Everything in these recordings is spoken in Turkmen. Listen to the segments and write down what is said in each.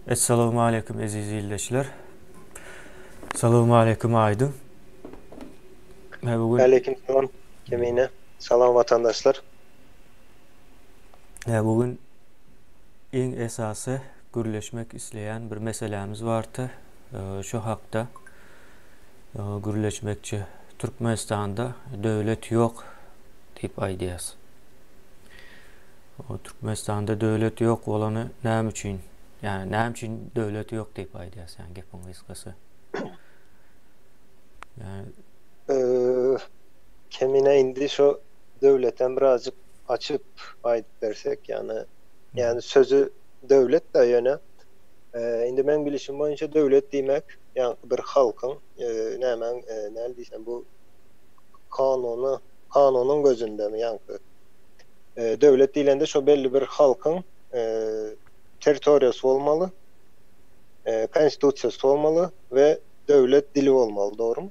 Essalawmaleýkim eziz ildeşler. Salawmaleýkim Aýdyn. Mä bu gün Waleýkim salam Kemine. Salam watandaşlar. Mä bu gün iň esasy gürleşmek isleýän bir meselämiz bardy. Şo hakda gürleşmekçi. Türkmenistanda döwlet ýok diýip aýdýas. O Türkmenistanda döwlet ýok bolany näme üçin? Ýani näme üçin döwlet ýok diýip aýdýas ýani gepiň gysgasy. Ýani Eee Kemine indi şo döwletem birazjyk açyp aýdyp bersek ýani ýani sözi döwletdä ýöne eee indi meň bilişim boýunça döwlet diýmek ýaňky bir halkyň eee nämäň eee näl diýsem bu kanuny kanunyň gözündemi ýaňky Döwlet diýlende şo belli bir halkyň territoriýasy bolmaly, konstitusiýasy bolmaly we döwlet dili bolmaly, dogrumy?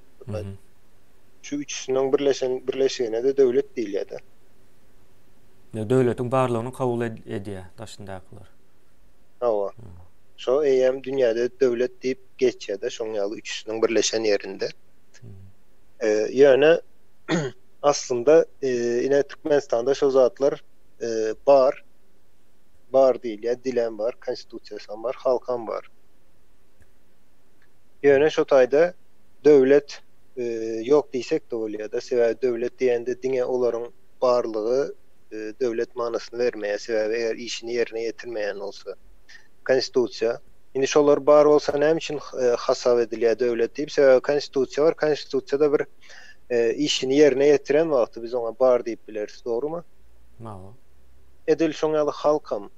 Şu üçüsiniň birleşen birleşigine-de döwlet diýilýär-de. Ýa döwletiň barlygyny kabul edýär daşyndakylar. Hawa. Şo eýýäm dünýäde döwlet diýip geçýär-de şoň ýaly üçüsiniň birleşen ýerinde. Ýöne Aslynda ine Türkmenistanda şol zatlar bar. Bar diýilýär, dilem bar, konstitusiýasam bar, halkam bar. Ýöne şo taýda döwlet ýok diýsek-de bolýar-da, sebäbi döwlet diýende diňe olaryň barlygy döwlet manysyny bermeýär, sebäbi eger işini ýerine ýetirmeýän bolsa. Konstitusiýa. Indi şolar bar bolsa näme üçin hasap edilýär döwlet diýip, sebäbi konstitusiýa bar, konstitusiýada bir işini ýerine ýetiren wagty biz oňa bar diýip bileris, dogrumy? Hawa. Edil şoň ýaly halkam.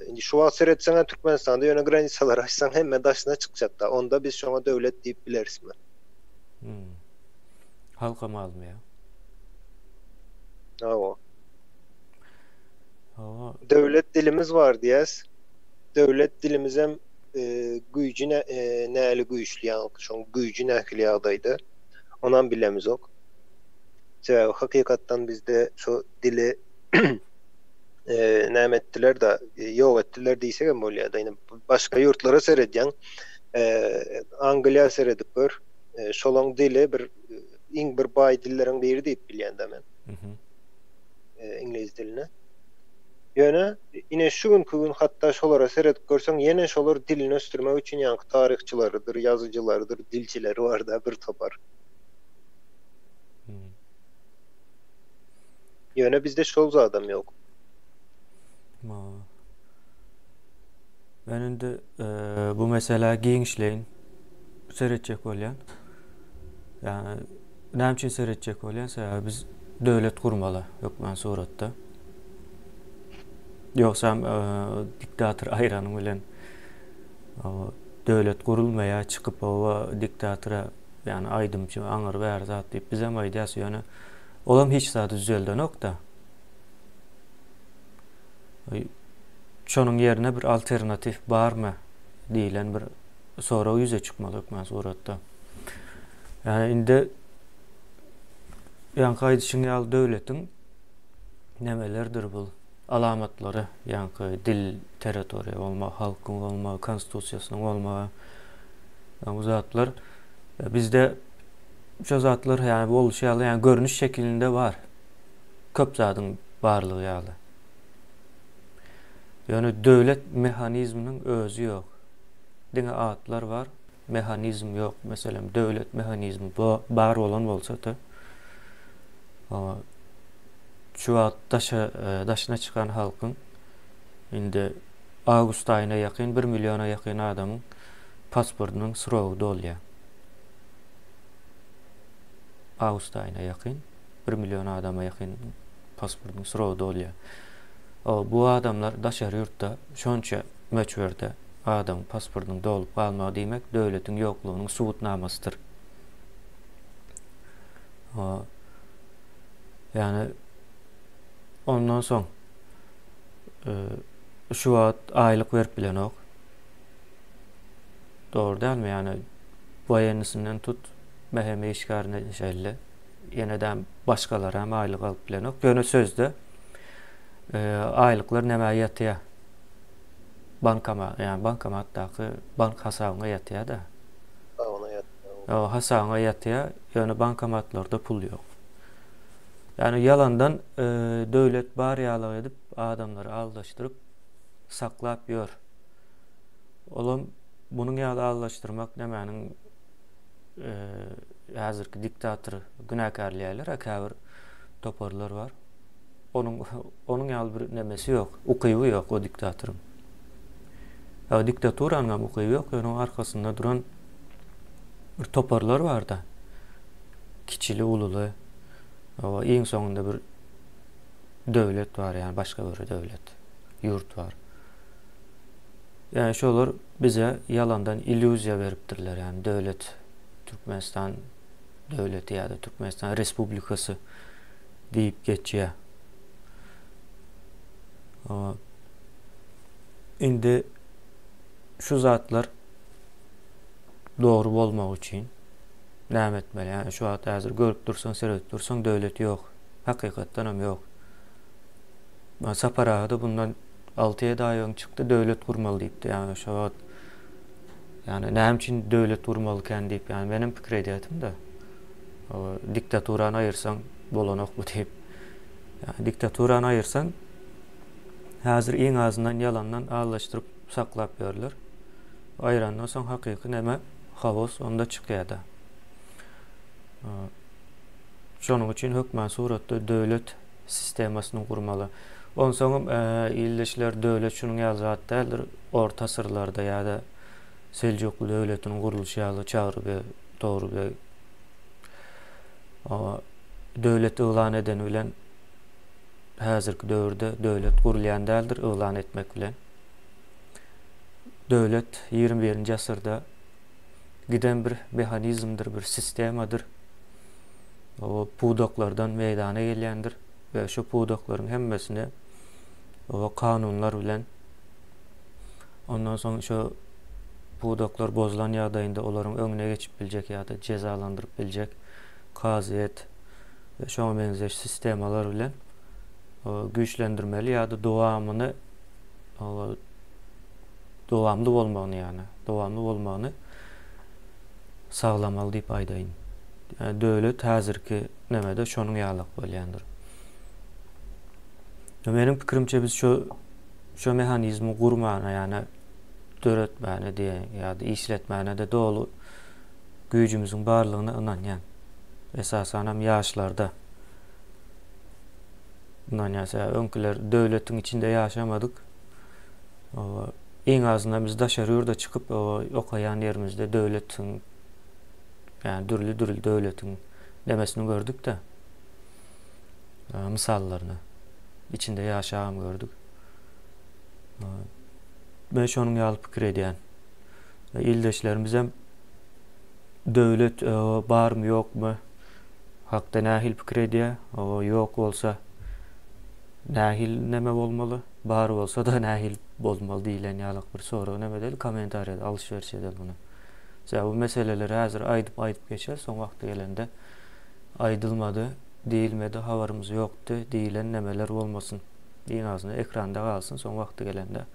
Indi şu wagt seretseň-ä Türkmenistanda ýöne granisalary açsaň hemme daşyna çykjak-da, onda biz şoňa döwlet diýip bilerismi? Hum. Halkam azmyýa? Hawa. Hawa. Döwlet dilimiz bar diýýäs. Döwlet dilimizem güýji näli güýçli ýaňky şoň güýji nähili ýagdaýda onam bilemizok sebäbi hakykatdan bizde şu dili näme etdiler da ýok etdiler diýsek hem bolýar da başga ýurtlara seredýän angliýa seredip gör şolaň dili bir iň bir baý dilleriň biri diýip bilýän da men iňlis diline. Ýöne ine şu günki gün hatda şolara seredip görseň ýene şolar dilini ösdürmek üçin ýaňky taryhçylarydyr, ýazyjylarydyr, dilçileri barda bir topar. Ýöne bizde şol zadam ýok. Ma. Men indi e, bu meselä giňişleýin seretjek bolýan. Yani Näme üçin seretjek bolýan sebäbi biz döwlet gurmaly hökman suratda. Ýogsam e, diktator aýrany bilen döwlet gurulmaýa çykyp owa diktatora ýani aýdymçy aňyr bäri zat diýip biz hem aýdýas ýöne olam hiç zat düzeldenokda. Şonuň ýerine bir alternativ barmy diýilen bir sorag ýüze çykmaz hökman suratda. Ýa indi ýaňky aýdyşyň ýaly döwletiň nemelerdir bul alamatlary, ýaňky dil, territoriýa bolma, halkyň bolma, konstitusiýasynyň bolma, ýa bu zatlar e, bizde şu zatlar ýa boluşy ýaly, ýa görnüş şekilinde bar. Köp zadyň barlygy ýaly. Ýöne döwlet mehanizminiň özi ýok. Diňe atlar bar, mehanizm ýok. Meselem, döwlet mehanizmi bar bolan bolsady, şu wagt daşa, e, daşyna çykan halkyň indi awgust aýyna ýakyn bir milliona ýakyn adamyň pasportynyň srogy dolýar. Awgust aýyna ýakyn bir million adama ýakyn pasportynyň srogy dolýar. O, bu adamlar daşary ýurtda şonça möçberde adam pasportynyň dolup galmagy diýmek döwletiň ýoklugynyň subutnamasydyr. Ýani ondan soň şu wagt aýlyk berip bilenok. Dogry dälmi? Ýani waýennysynyň tut mähem işgärine şeýle. Ýene-de başgalar hem aýlyk alyp bilenok. Ýöne sözde aýlyklar nämä ýatýar? bankama, ýa bankomatdaky bank hasabyňa ýatýa-da. Hasabyňa ýatýa. Ýa hasabyňa ýatýa, ýöne bankomatlarda pul ýok. Ýani ýalandan döwlet bar ýalyk edip adamlary aldaşdyryp saklap ýör. Olam munuň ýaly aldaşdyrmak nämäniň häzirki diktator günäkärleýärler-ä käbir toparlar bar. Onuň onuň ýaly bir nemesi ýok, ukyby ýok o diktatoryň. Ýa diktaturanyň hem ukyby ýok, ýöne onuň arkasynda duran bir toparlar barda. Kiçili, ululy. O iň soňunda bir döwlet bar, ýa başga bir döwlet, ýurt bar. Ýa şolar bize ýalandan illýuziýa beripdirler, ýa döwlet Türkmenistan döwleti ýa-da Türkmenistan Respublikasy. Diýip geçýär. Indi şu zatlar dogry bolmagy üçin näme etmeli? Ýa şu wagt häzir görüp dursaň, seredip dursaň döwlet ýok. Hakykatdan hem ýok. Ýa Sapar aga da bundan 6-7 aý öň çykdy, döwlet gurmaly diýipdi. Ýa şu wagt ýa näme üçin döwlet gurmaly ikän diýip, ýa men hem pikir edýärdim-de. diktaturany aýyrsaň bolanok bu diýip. Ýa diktaturany aýyrsaň häzir iň azyndan ýalandan allaşdyryp saklap ýörler. Aýrandan soň hakyky näme hawos onda çykýada. Şonuň üçin hökman suratda döwlet sistemasyny gurmaly. Onsoňam ildeşler döwlet şunuň ýaly zat däldir orta asyrlarda ýa-da Seljukly döwletiniň gurluşy ýaly Çagry beg, Togry beg döwlet yglan edeni bilen häzirki döwürde döwlet gurulýan däldir yglan etmek bilen. Döwlet ýigrimi birinji asyrda giden bir mehanizmdir, bir sistemadyr. O pudaklardan meýdana gelýändir we şu pudaklaryň hemmesini o kanunlar bilen Ondan soň şu pudaklar bozulan ýagdaýynda olaryň öňüne geçip biljek ýa-da jezalandyryp biljek kazyýet we şoňa meňzeş sistemalar bilen güýçlendirmeli ýa-da dowamyny dowamly bolmagyny ýa dowamly bolmagyny saglamaly diýip aýdaýyn. Döwlet häzirki nämede şonuň ýalak bolýandyr. Meniň pikirimçe biz şu Şu mehanizmi gurmana, ýa-da döretmäne diýeýin, ýa-da işletmäne-de doly güýjümiziň barlygyna ynanýan. Esasanam ýaşlarda ynanýan. Sebäbi öňküler döwletiň içinde ýaşamadyk. Iň azyndan biz daşary ýurda çykyp, okaýan ýerimizde döwletiň, ýa dürli-dürli döwletiň nemesini gördük-de. mysallaryny içinde ýaşagam gördük. Men şonuň ýaly pikir edýän. Ildeşlerimiz hem döwlet barmy ýokmy hakda nähili pikir edýär? O ýok bolsa nähili näme bolmaly? Bar bolsa da nähili bolmaly diýlen ýaly bir sorag näme edeli kommentariýada alyş-berş edeli muny. Sebäbi bu meseleleri häzir aýdyp-aýdyp geçer, soň wagty gelende Aýdylmady, diýilmedi, habarymyz ýokdy diýilen nemeler bolmasyn. Iň azyndan ekranda galsyn, soň wagty gelende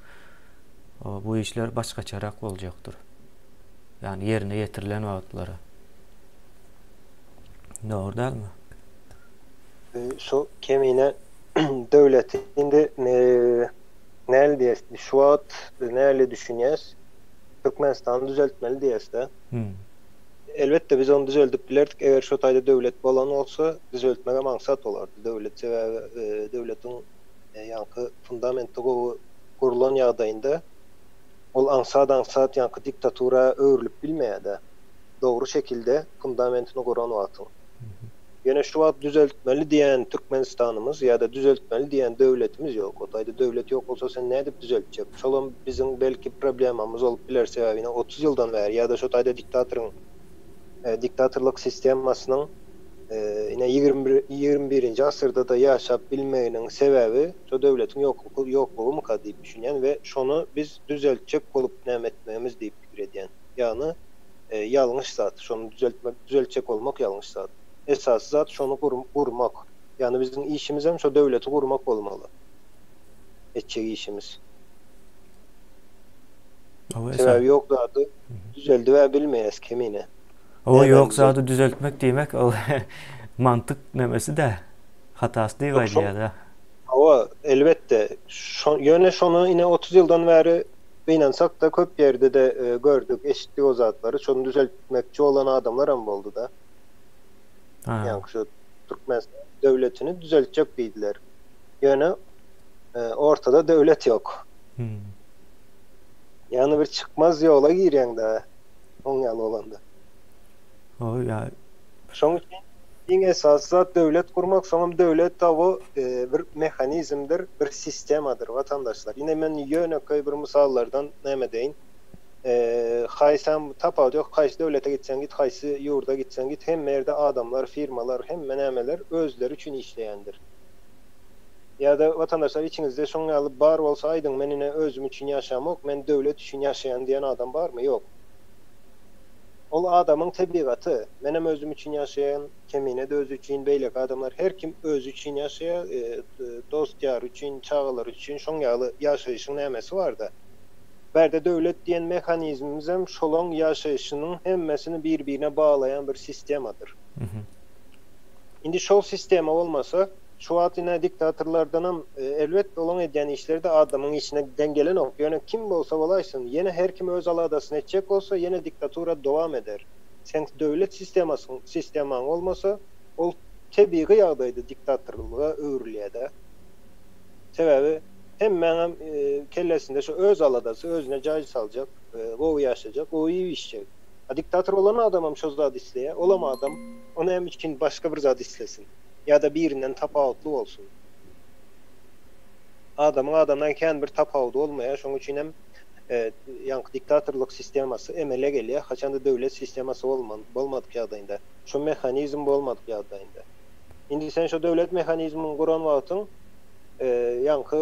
bu işler başgaçarak boljakdyr. Ýagny ýerine ýetirilen wagtlary. Dogry dälmi? Şu kemine döwleti indi näl diýes, şu wagt näle düşünýäs, Türkmenistany düzeltmeli diýesde. Elbetde biz ony düzeldip bilerdik eger şo taýda döwlet bolan bolsa düzeltmegem aňsat bolardy döwlet sebäbi döwletiň ýaňky fundamenti gowy gurlan ýagdaýynda ol aňsat aňsat ýaňky diktatura öwrülip bilmeýädä dogry şekilde fundamentini guran wagtyň. Ýöne şu wagt düzeltmeli diýen Türkmenistanymyz ýa-da düzeltmeli diýen döwletimiz ýok. O taýda döwlet ýok bolsa sen nädip düzeltjek? Şolam biziň belki problemamyz bolup biler, sebäbi ine otuz ýyldan bäri ýa-da şu taýda diktatoryň diktatorlyk sistemasynyň ine ýigrimi bir ýigrimi birinji asyrda-da ýaşap bilmeginiň sebäbi şo döwletiň ýoklugy ýoklugymyka diýip düşünýän we şony biz düzeltjek bolup näme etmegimiz diýip pikir edýän. Ýagny, ýalňyş zat, şony düzeltmek, düzeltjek bolmak ýalňyş zat. Esasy zat şony gurmak. Ýagny biziň işimizem şo döwleti gurmak bolmaly. Etjek işimiz. Sebäbi ýok zady düzeldibä bilmeýäs kemine. Oba ýok zady düzeltmek diýmek ol mantyk nemesi-dä. Hatasy diýip aýdýar-da. Oba, elbetde. Ýöne şony ine otuz ýyldan bäri Gynansakda köp ýerde-de gördük, eşitdik o zatlary. Şony düzeltmekçi bolan adamlaram boldy-da. Ýaňky şu Türkmenistan döwletini düzeltjek diýdiler. Ýöne ortada döwlet ýok. Ýagny bir çykmaz ýola girýäň-de oň ýaly bolanda. Şoň üçin iň esasy zat döwlet gurmak, soňam döwlet tabu bir mehanizmdir, bir sistemadyr watandaşlar. Ine men ýönekeý bir mysallardan näme edeýin. Haýsam tapawudy ýok, haýsy döwlete gitseň git, haýsy ýurda gitseň git, hemme ýerde adamlar, firmalar, hemme nämeler özleri üçin işleýändir. Ýa-da watandaşlar içiňizde şoň ýaly bar bolsa aýdyň, men ine özüm üçin ýaşamok, men döwlet üçin ýaşaýan diýen adam barmy? Ýok. Ol adamyň tebigaty. Menem özüm üçin ýaşaýan, Kemine-de özi üçin, beýleki adamlar her kim özi üçin ýaşaýar, dost-ýary üçin, çagalary üçin şoň ýaly ýaşaýşyň nämesi bar-da. Bärde döwlet diýen mehanizmimizem şolaň ýaşaýşynyň hemmesini bir-birine baglaýan bir sistemadyr. Indi şol sistema bolmasa, Şu wagt ine diktatorlardanam elbet olaň edýän işleri-de adamyň işine deň gelenok, ýöne kim bolsa bolaýsyn, ýene her kim öz aladasyny etjek bolsa ýene diktatura dowam eder. Seň döwlet sistemasyň, sistemaň bolmasa, ol tebigy ýagdaýda diktatorlyga öwrülýär-dä. Sebäbi hemmäňem kellesinde şu öz aladasy, özüne jaý saljak, gowy ýaşajak, gowy iýip-içjek. A diktator bolan adamam şo zady isleýär, olam adam, o näme üçin başga bir zat islesin? ýa-da birinden tapawutly bolsun. Adamyň adamdan kän bir tapawudy bolmaýar, şonuň üçin hem ýaňky diktatorlyk sistemasy emele gelýär, haçanda döwlet sistemasy bolmadyk ýagdaýynda, şo mehanizm bolmadyk ýagdaýynda. Indi sen şo döwlet mehanizmini guran wagtyň ýaňky.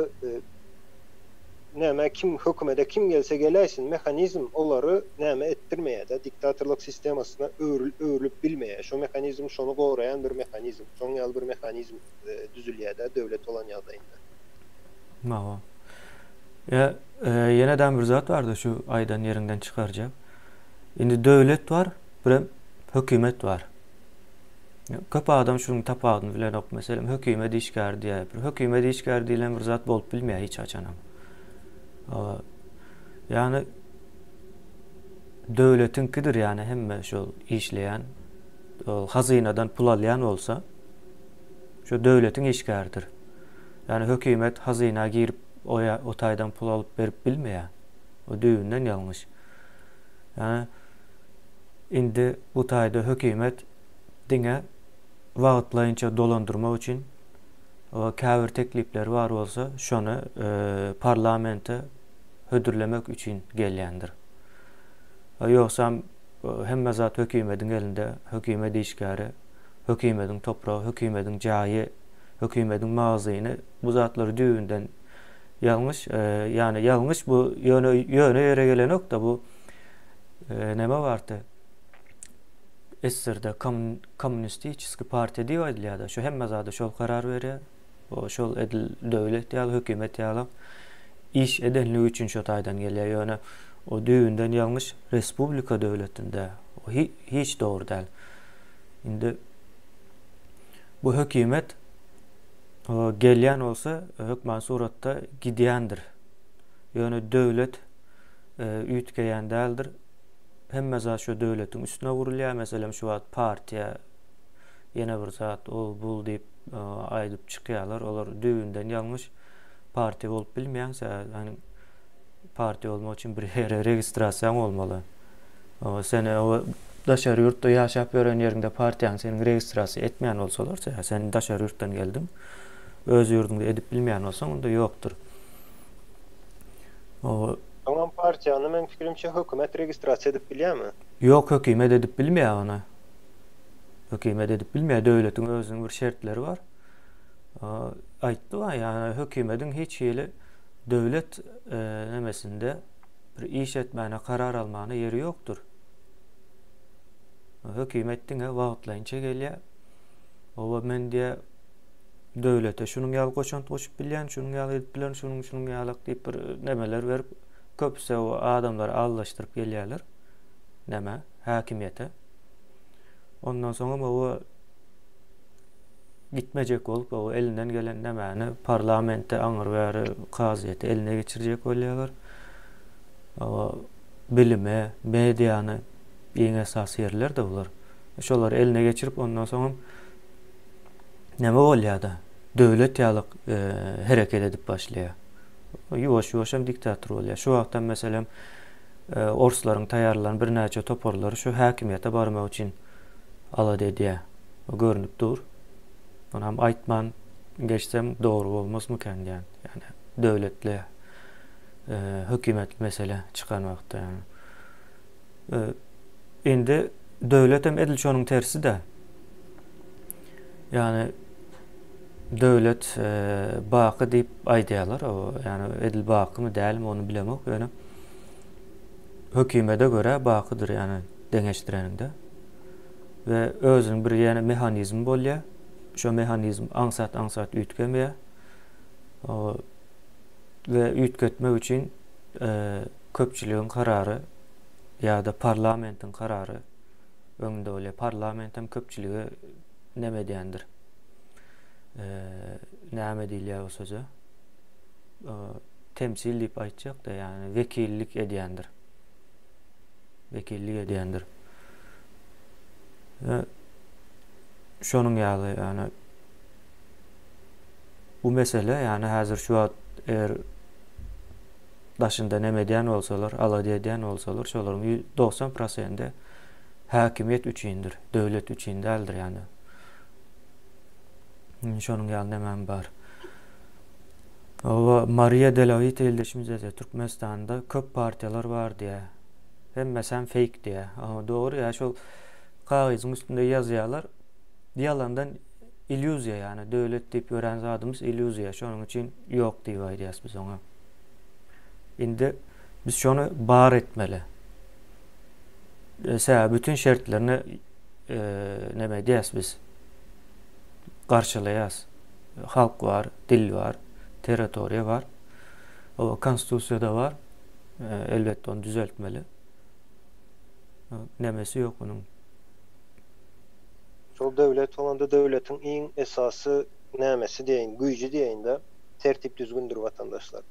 Näme kim hökümede kim gelse geläýsin mehanizm olary näme etdirmeýäda diktatorlyk sistemasyna öwrül öwrülip bilmeýä şo mehanizm şony goraýan bir mehanizm şoň ýaly bir mehanizm düzülýäda döwlet bolan ýagdaýynda. Mawa. Ýa ýenedäm bir zat barda şu aýdan ýeriňden çykarjak. Indi döwlet bar birem hökümet bar. Köp adam şunuň tapawudyny bilenok. Meselem, hökümet işgäri diýäýipdir. Hökümet işgäri diýlen bir zat bolup bilmeýär hiç haçanam. Ýagny döwletiňkidir, ýagny hemme şol işleýän, hazynadan pul alýan bolsa, şu döwletiň işgäridir. Ýagny hökümet hazyna girip, o o taýdan pul alyp berip bilmeýär. O düýbünden ýalňyş. Ýagny Indi bu taýda hökümet diňe wagtlaýynça dolandyrmak üçin we käbir teklipleri bar bolsa, şony parlamente hödürlemek üçin gelýändir. Ýogsam hemme zat hökümetiň elinde, hökümet işgäri, hökümetiň topragy, hökümetiň jaýy, hökümetiň magazyny bu zatlar düýbünden ýalňyş, ýagny ýalňyş bu ýöne ýöne ýere gelenok-da bu näme bardy? SSR-de kommunistiçeski partiýa diýip aýdylýar-da, şu hemme zada şol karar berýär. O şol edil döwlet ýaly, hökümet ýaly iş edenligi üçin şo taýdan gelýär. Ýöne o düýbünden ýalňyş respublika döwletinde o hiç dogry däl. Indi bu hökümet gelýän bolsa hökman suratda gidýändir. Ýöne döwlet üýtgeýän däldir. Hemme zat şu döwletiň üstüne gurulýar. Meselem, şu wagt partiýa ýene bir zat ol bul diýip e, aýdyp çykýarlar. Olar düýbünden ýalňyş. Partiýa bolup bilmeýäň, sen partiýa bolmak üçin bir ýere registrasiýaň bolmaly. Sen daşary ýurtda ýaşap ýören ýeriňde partiýaň seni registrasiýa etmeýän bolsalar, sen daşary ýurtdan geldiň, öz ýurduňda edip bilmeýän bolsaň, onda ýokdur. O Soňam partiýany meň pikirimçe hökümet registrasiýa edip bilýärmi? Ýok hökümet edip bilmeýär ony. Hökümet edip bilmeýär döwletiň özüniň bir şertleri bar. Aýtdym-a ýa hökümediň hiç hili döwlet nemesinde bir iş etmäne karar almana ýeri ýokdur. Hökümet diňe wagtlaýynça gelýär. Oba men diýä döwlete şunuň ýaly goşant goşup bilýän, şunuň ýaly edip bilen, şunuň şunuň ýaly diýip bir nemeler berip, köpüsi o adamlary aldaşdyryp gelýärler. Näme? Häkimiýete. Ondan soň hem o gitmejek bolup, o elinden gelen nämäni parlamente aňyr bäri kazyýeti eline geçirjek bolýarlar. O bilime, mediany iň esasy ýerler-de bular. Şolary eline geçirip, ondan soň hem näme bolýar-da, döwlet ýaly hereket edip başlaýar. Ýuwaş-ýuwaş hem diktator bolýar. Şu wagt hem, meselem, orslaryň taýýarlan birnäçe toparlary şu häkimiýete barmak üçin alada edýär. Bu görnüp dur. Muny hem aýtman geçsem dogry bolmazmykan diýýän. Ýagny döwletli hökümetli mesele çykan wagtda. indi döwletem edil şonuň terside. Yani döwlet e, baky diýip aýdýarlar. O yani edil bakymy dälmi onu bilemok. Ýöne hökümete göre bakydyr yani deňeşdireniňde. Ve özüniň bir ýene mehanizmi bolýar. Şu mehanizm aňsat aňsat üýtgemýär. O we üýtgetmek üçin köpçüligiň karary ýa-da parlamentiň karary öňünde bolýar. Parlament hem köpçülige näme edýändir? Näme diýilýär bu söze? Temsil diýip aýtjak-da, ýagny wekillik edýändir. Wekillik edýändir. Şonuň ýaly, ýagny bu mesele ýani häzir şu wagt eger daşynda neme edýän bolsalar, alada edýän bolsalar, şolaryň 90 prosenti häkimiýet üçindir, döwlet üçin däldir ýani. Şonuň ýaly nämem bar. Owa Maria Delavit ildeşimize de Türkmenistanda köp partiýalar bar diýä. Hemmesi hem fake diýä. Owa dogry ýa şol kagyzyň üstünde ýazýarlar. Ýalandan illýuziýa ýany döwlet diýip ýörän zadymyz illýuziýa şonuň üçin ýok diýip aýdýas biz oňa. Indi biz şony bar etmeli. Ese bütün şertlerini e, neme edýäs biz? Garşylaýas. Halk bar, dil bar, territoriýa bar. O konstitusiýada bar. E, elbetde onu düzeltmeli. Nemesi ýok munuň. Şol döwlet bolanda döwletiň iň esasy nämesi diýeýin, güýji diýeýin-de, tertip-düzgündir, watandaşlar.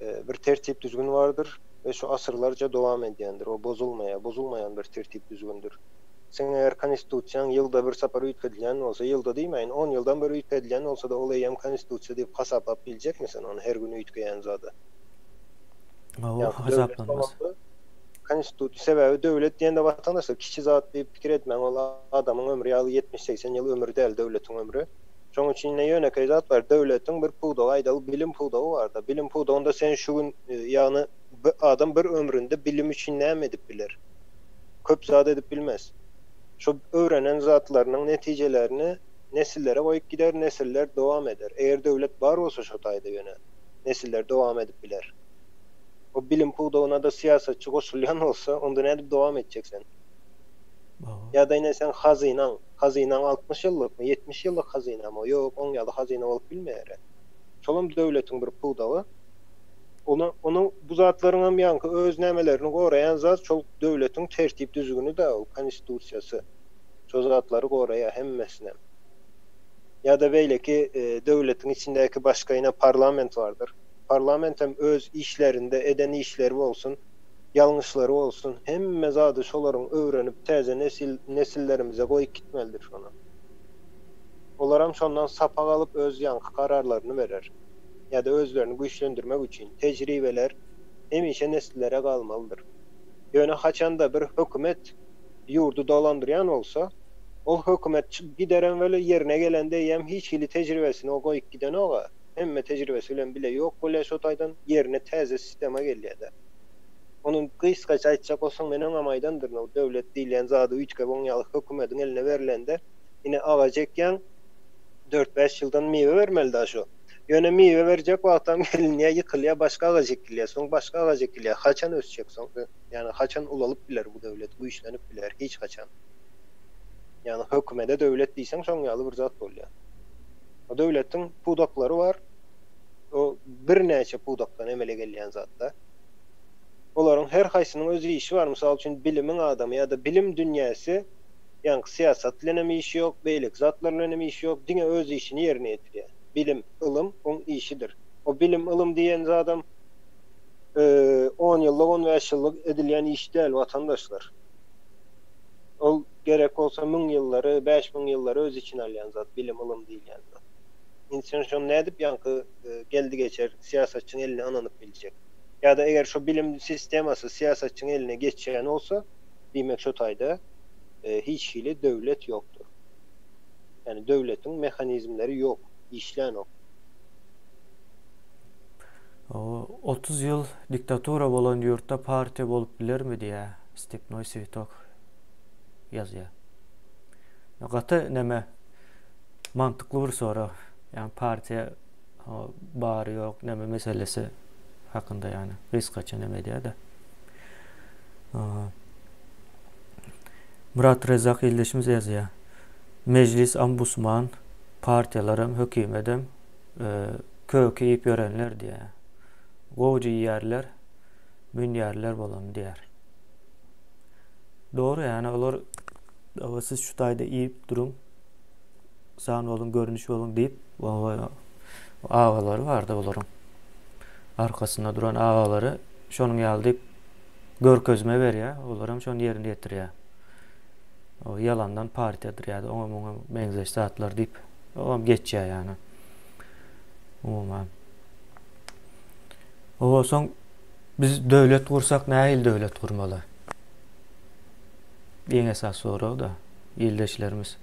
Bir tertip-düzgün bardyr we şu asyrlarca dowam edýändir, o bozulmaýar, bozulmaýan bir tertip-düzgündir. Seň eger Konstitusiýaň ýylda bir sapar üýtgedilýän bolsa, ýylda diýmäýin, on ýyldan bir üýtgedilýän bolsa-da, ol eýýäm Konstitusiýa diýip hasaplap biljekmi sen ony, her gün üýtgeýän zada? Hawa, hasaplanmaz. Konstitusiýa sebäbi döwlet diýende watandaşlar kiçi zat diýip pikir etmäň ol adamyň ömri ýaly ýetmiş segsen ýyl ömür däl döwletiň ömri. Şoň üçin ine ýönekeý zat bar döwletiň bir pudagy aýdaly bilim pudagy barda bilim pudagynda sen şu gün ýagny bir adam bir ömründe bilim üçin näme edip biler? Köp zat edip bilmez. Şo öwrenen zatlarynyň netijelerini nesillere goýup gider nesiller dowam eder. Eger döwlet bar bolsa şo taýda ýöne nesiller dowam edip biler. O bilim pudagynada syýasatçy goşulýan bolsa, onda nädip dowam etjek sen? Ýa-da ine seň hazynaň, hazynaň altmyş ýyllykmy, ýetmiş ýyllyk hazynamy o? Ýok, oň ýaly hazyna bolup bilmeýär-ä. Şolam döwletiň bir pudagy. Ony, ony bu zatlaryňam ýaňky öz nämelerini goraýan zat şol döwletiň tertip-düzgüni-dä ol, Konstitusiýasy. Şo zatlary goraýar hemmesinem. Ýa-da beýleki döwletiň içindäki başga ine parlament bardyr. Parlament hem öz işlerinde eden işleri bolsun, ýalňyşlary bolsun, hemme zady şolaryň öwrenip täze nesil nesillerimize goýup gitmelidir şony. Olaram şondan sapak alyp öz ýaňky kararlaryny berer. Ýa-da özlerini güýçlendirmek üçin tejribeler hemişe nesillere galmalydyr. Ýöne haçanda bir hökümet ýurdy dolandyrýan bolsa, ol hökümet çykyp giderem weli ýerine gelende eýýäm hiç hili tejribesini o goýup gidenok-a. hemme tejribesi bilen bile ýok bolýar şo taýdan, ýerine täze sistema gelýär-de. Ony gysgaça aýtjak bolsaň, men öňem aýdandyryn, o döwlet diýilýän zady üýtgäp oň ýaly hökümediň eline berlende, ine agaç ekýäň, dört-bäş ýyldan miwe bermeli daş o. Ýöne miwe berjek wagtam gelinýär, ýykylýar, başga agaç ekilýär, soň başga agaç ekilýär. Haçan ösjek soň? Ýagny haçan ulalyp biler bu döwlet, güýçlenip biler? Hiç haçan. Ýagny hökümede döwlet diýseň şoň ýaly bir zat bolýar. O döwletiň pudaklary bar. O birnäçe pudakdan emele gelýän zatlar. Olaryň her haýsynyň öz işi bar. Mysal üçin, bilimiň adamy ýa-da bilim dünýäsi, ýaňky syýasat bilen hem işi ýok, beýleki zatlar bilen hem işi ýok, diňe öz işini ýerine ýetirýär. Bilim, ylym oň işidir. O bilim, ylym diýen zadam on ýyllyk, on bäş ýyllyk edilýän iş däl, watandaşlar. Ol. Gerek bolsa müň ýyllary, bäş müň ýyllary öz içine alýan zat, bilim, ylym diýilýän zat. Indi sen şony nädip ýaňky geldi-geçer syýasatçyň eline ynanyp biljek? Ýa-da eger şo bilim sistemasy syýasatçyň eline geçýän bolsa, diýmek şo taýda hiç hili döwlet ýokdur. Ýagny döwletiň mehanizmleri ýok, işlänok. Otuz ýyl diktatura bolan ýurtda partiýa bolup bilermi diýýär Stepnoý Switog. ýazýar. Gaty näme mantykly bir sorag. Ýani partiýa bary ýok näme meselesi hakynda ýani gysgaça näme edýär-de. Murat Rezak ildeşimiz ýazýar. Mejlis ambusman partiýalaram hökümedem köki iýip ýörenler diýýär. Gowja iýýärler, münýärler bolam diýýär. Dogry yani olar Aba siz şu taýda iýip duruň. San boluň, görnüş boluň diýip. Aba agalary bardy olaryň. Arkasynda duran agalary şonuň ýaly diýip görkezme berýär, olar hem şony ýerine ýetirýär. O ýalandan partiýadyr ýa-da oňa muňa meňzeş zatlar diýip, o hem geçýär ýany. Umuman. Owa soň Biz döwlet gursak nähili döwlet gurmaly? Iň esas sorag-da ildeşlerimiz.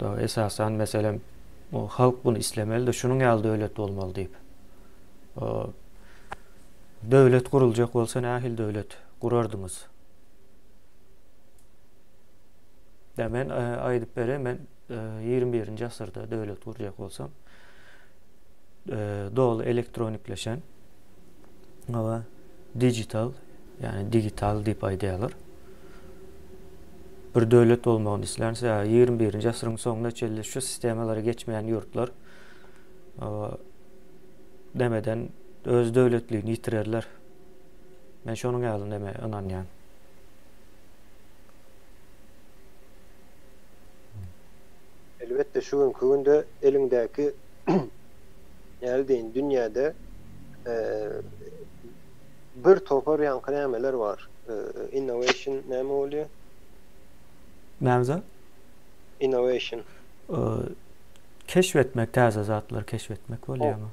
Dagy esasan meselem o halk bunu islemeli-de şunuň ýaly döwlet bolmaly diýip. O döwlet guruljak bolsa nähili döwlet gurardyňyz? Ýa men aýdyp bereyim men Ýigrimi birinji asyrda döwlet gurjak bolsaň, doly elektronikleşen we digital, ýagny digital diýip aýdýarlar. Bir döwlet bolmagyny islän, ýigrimi birinji asyryň soňuna çenli şu sistemalary geçmeýän ýurtlar nämeden öz döwletligini ýitirerler. Men şonuň ýaly näme ynanýan. Elbetde şu günki günde eliňdäki näle diýin dünýäde bir topar ýaňky nämeler bar. Innovation näme bolýar? Näme zat? Innovation. Keşf etmek, täze zatlar keşf etmek bolýarmy?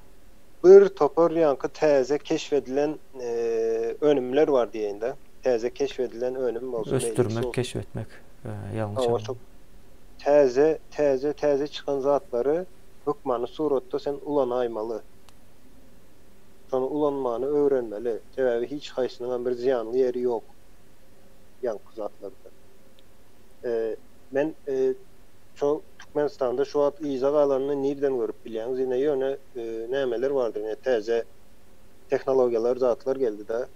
Bir topar ýaňky täze keşp edilen önümler bar diýeýin-de. Täze keşp edilen önüm bolsa meýli. Ösdürmek, keşp etmek ýalňyş anlam. Täze, täze, täze çykan zatlary hökmany suratda sen ulanaýmaly. Şony ulanmany öwrenmeli. Sebäbi hiç haýsynyňam bir zyýanly ýeri ýok ýaňky zatlardan. Men şo Türkmenistanda şu wagt yza galanyny nirden görüp bilýäňiz? Ine ýöne. nämeler bardyr, ine täze tehnologiýalar zatlar geldi-de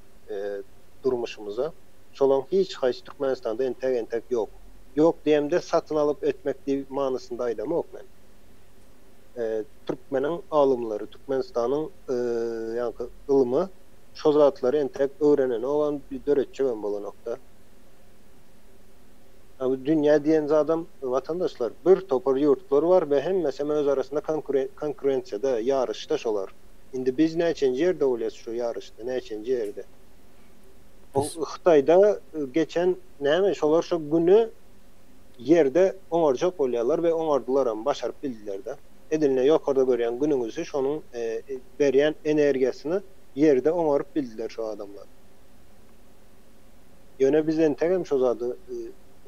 durmuşymyza. Şolaryň hiç haýsy Türkmenistanda entäk entäk ýok. Ýok diýemde satyn alyp etmek diýip manysynda aýdamok men. Türkmeniň alymlary, Türkmenistanyň ýaňky ylmy şo zatlary entäk öwrenenogam, döretjegem bolanokda. A bu dünýä diýen zadam, watandaşlar, bir topar ýurtlar bar we hemmesem öz arasynda konkurensiýada, ýaryşda şolar. Indi biz näçenji ýerde bolýas şu ýaryşda, näçenji ýerde? O Hytaýda geçen näme, şolar şu güni Ýerde oňarjak bolýarlar we oňardylaram, başaryp bildiler-de. Edil ine ýokarda görýän Günüňizi, şonuň berýän energiýasyny Ýerde oňaryp bildiler şu adamlar. Ýöne biz entegem şo zady,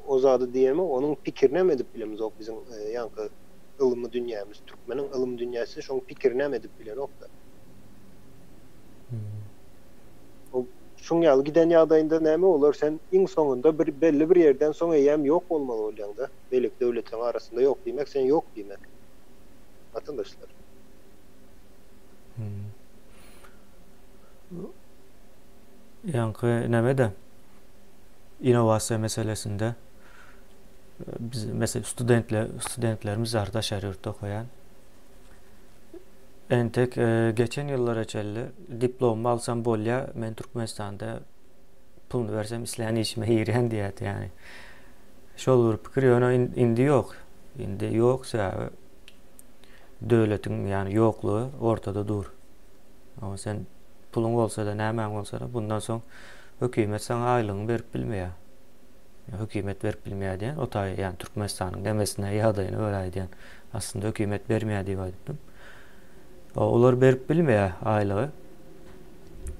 o zady diýemok, onuň pikirinäm edip bilemizok biziň ýaňky ylmy dünýämiz, türkmeniň ylym dünýäsi şoň pikirinäm edip bilenok-da. O şuň ýaly giden ýagdaýynda näme bolar, sen iň soňunda bir belli bir ýerden soň eýýäm ýok bolmaly bolýaň-da, beýleki döwletleriň arasynda ýok diýmek sen ýok diýmek. Watandaşlar. Ýaňky nämede innowasiýa meselesinde biz mesela studentler studentlerimiz bar daşary ýurtda okaýan. Entek e, geçen ýyllara çenli diplomumy alsam bolýar, men Türkmenistanda puluny bersem islän işime girýän diýýärdi ýani. Şol bir pikir ýöne indi ýok. Indi ýok sebäbi döwletiň ýani ýoklugy ortada dur. Ama sen Puluň bolsa-da, nämäň bolsa-da, bundan soň hökümet saňa aýlygyňy berip bilmeýär. Hökümet berip bilmeýär diýen, o taýy, ýagny Türkmenistanyň demesine ýagdaýyna görä aýdýan. Aslynda hökümet bermeýär diýip aýdypdym. Olar berip bilmeýär aýlygy.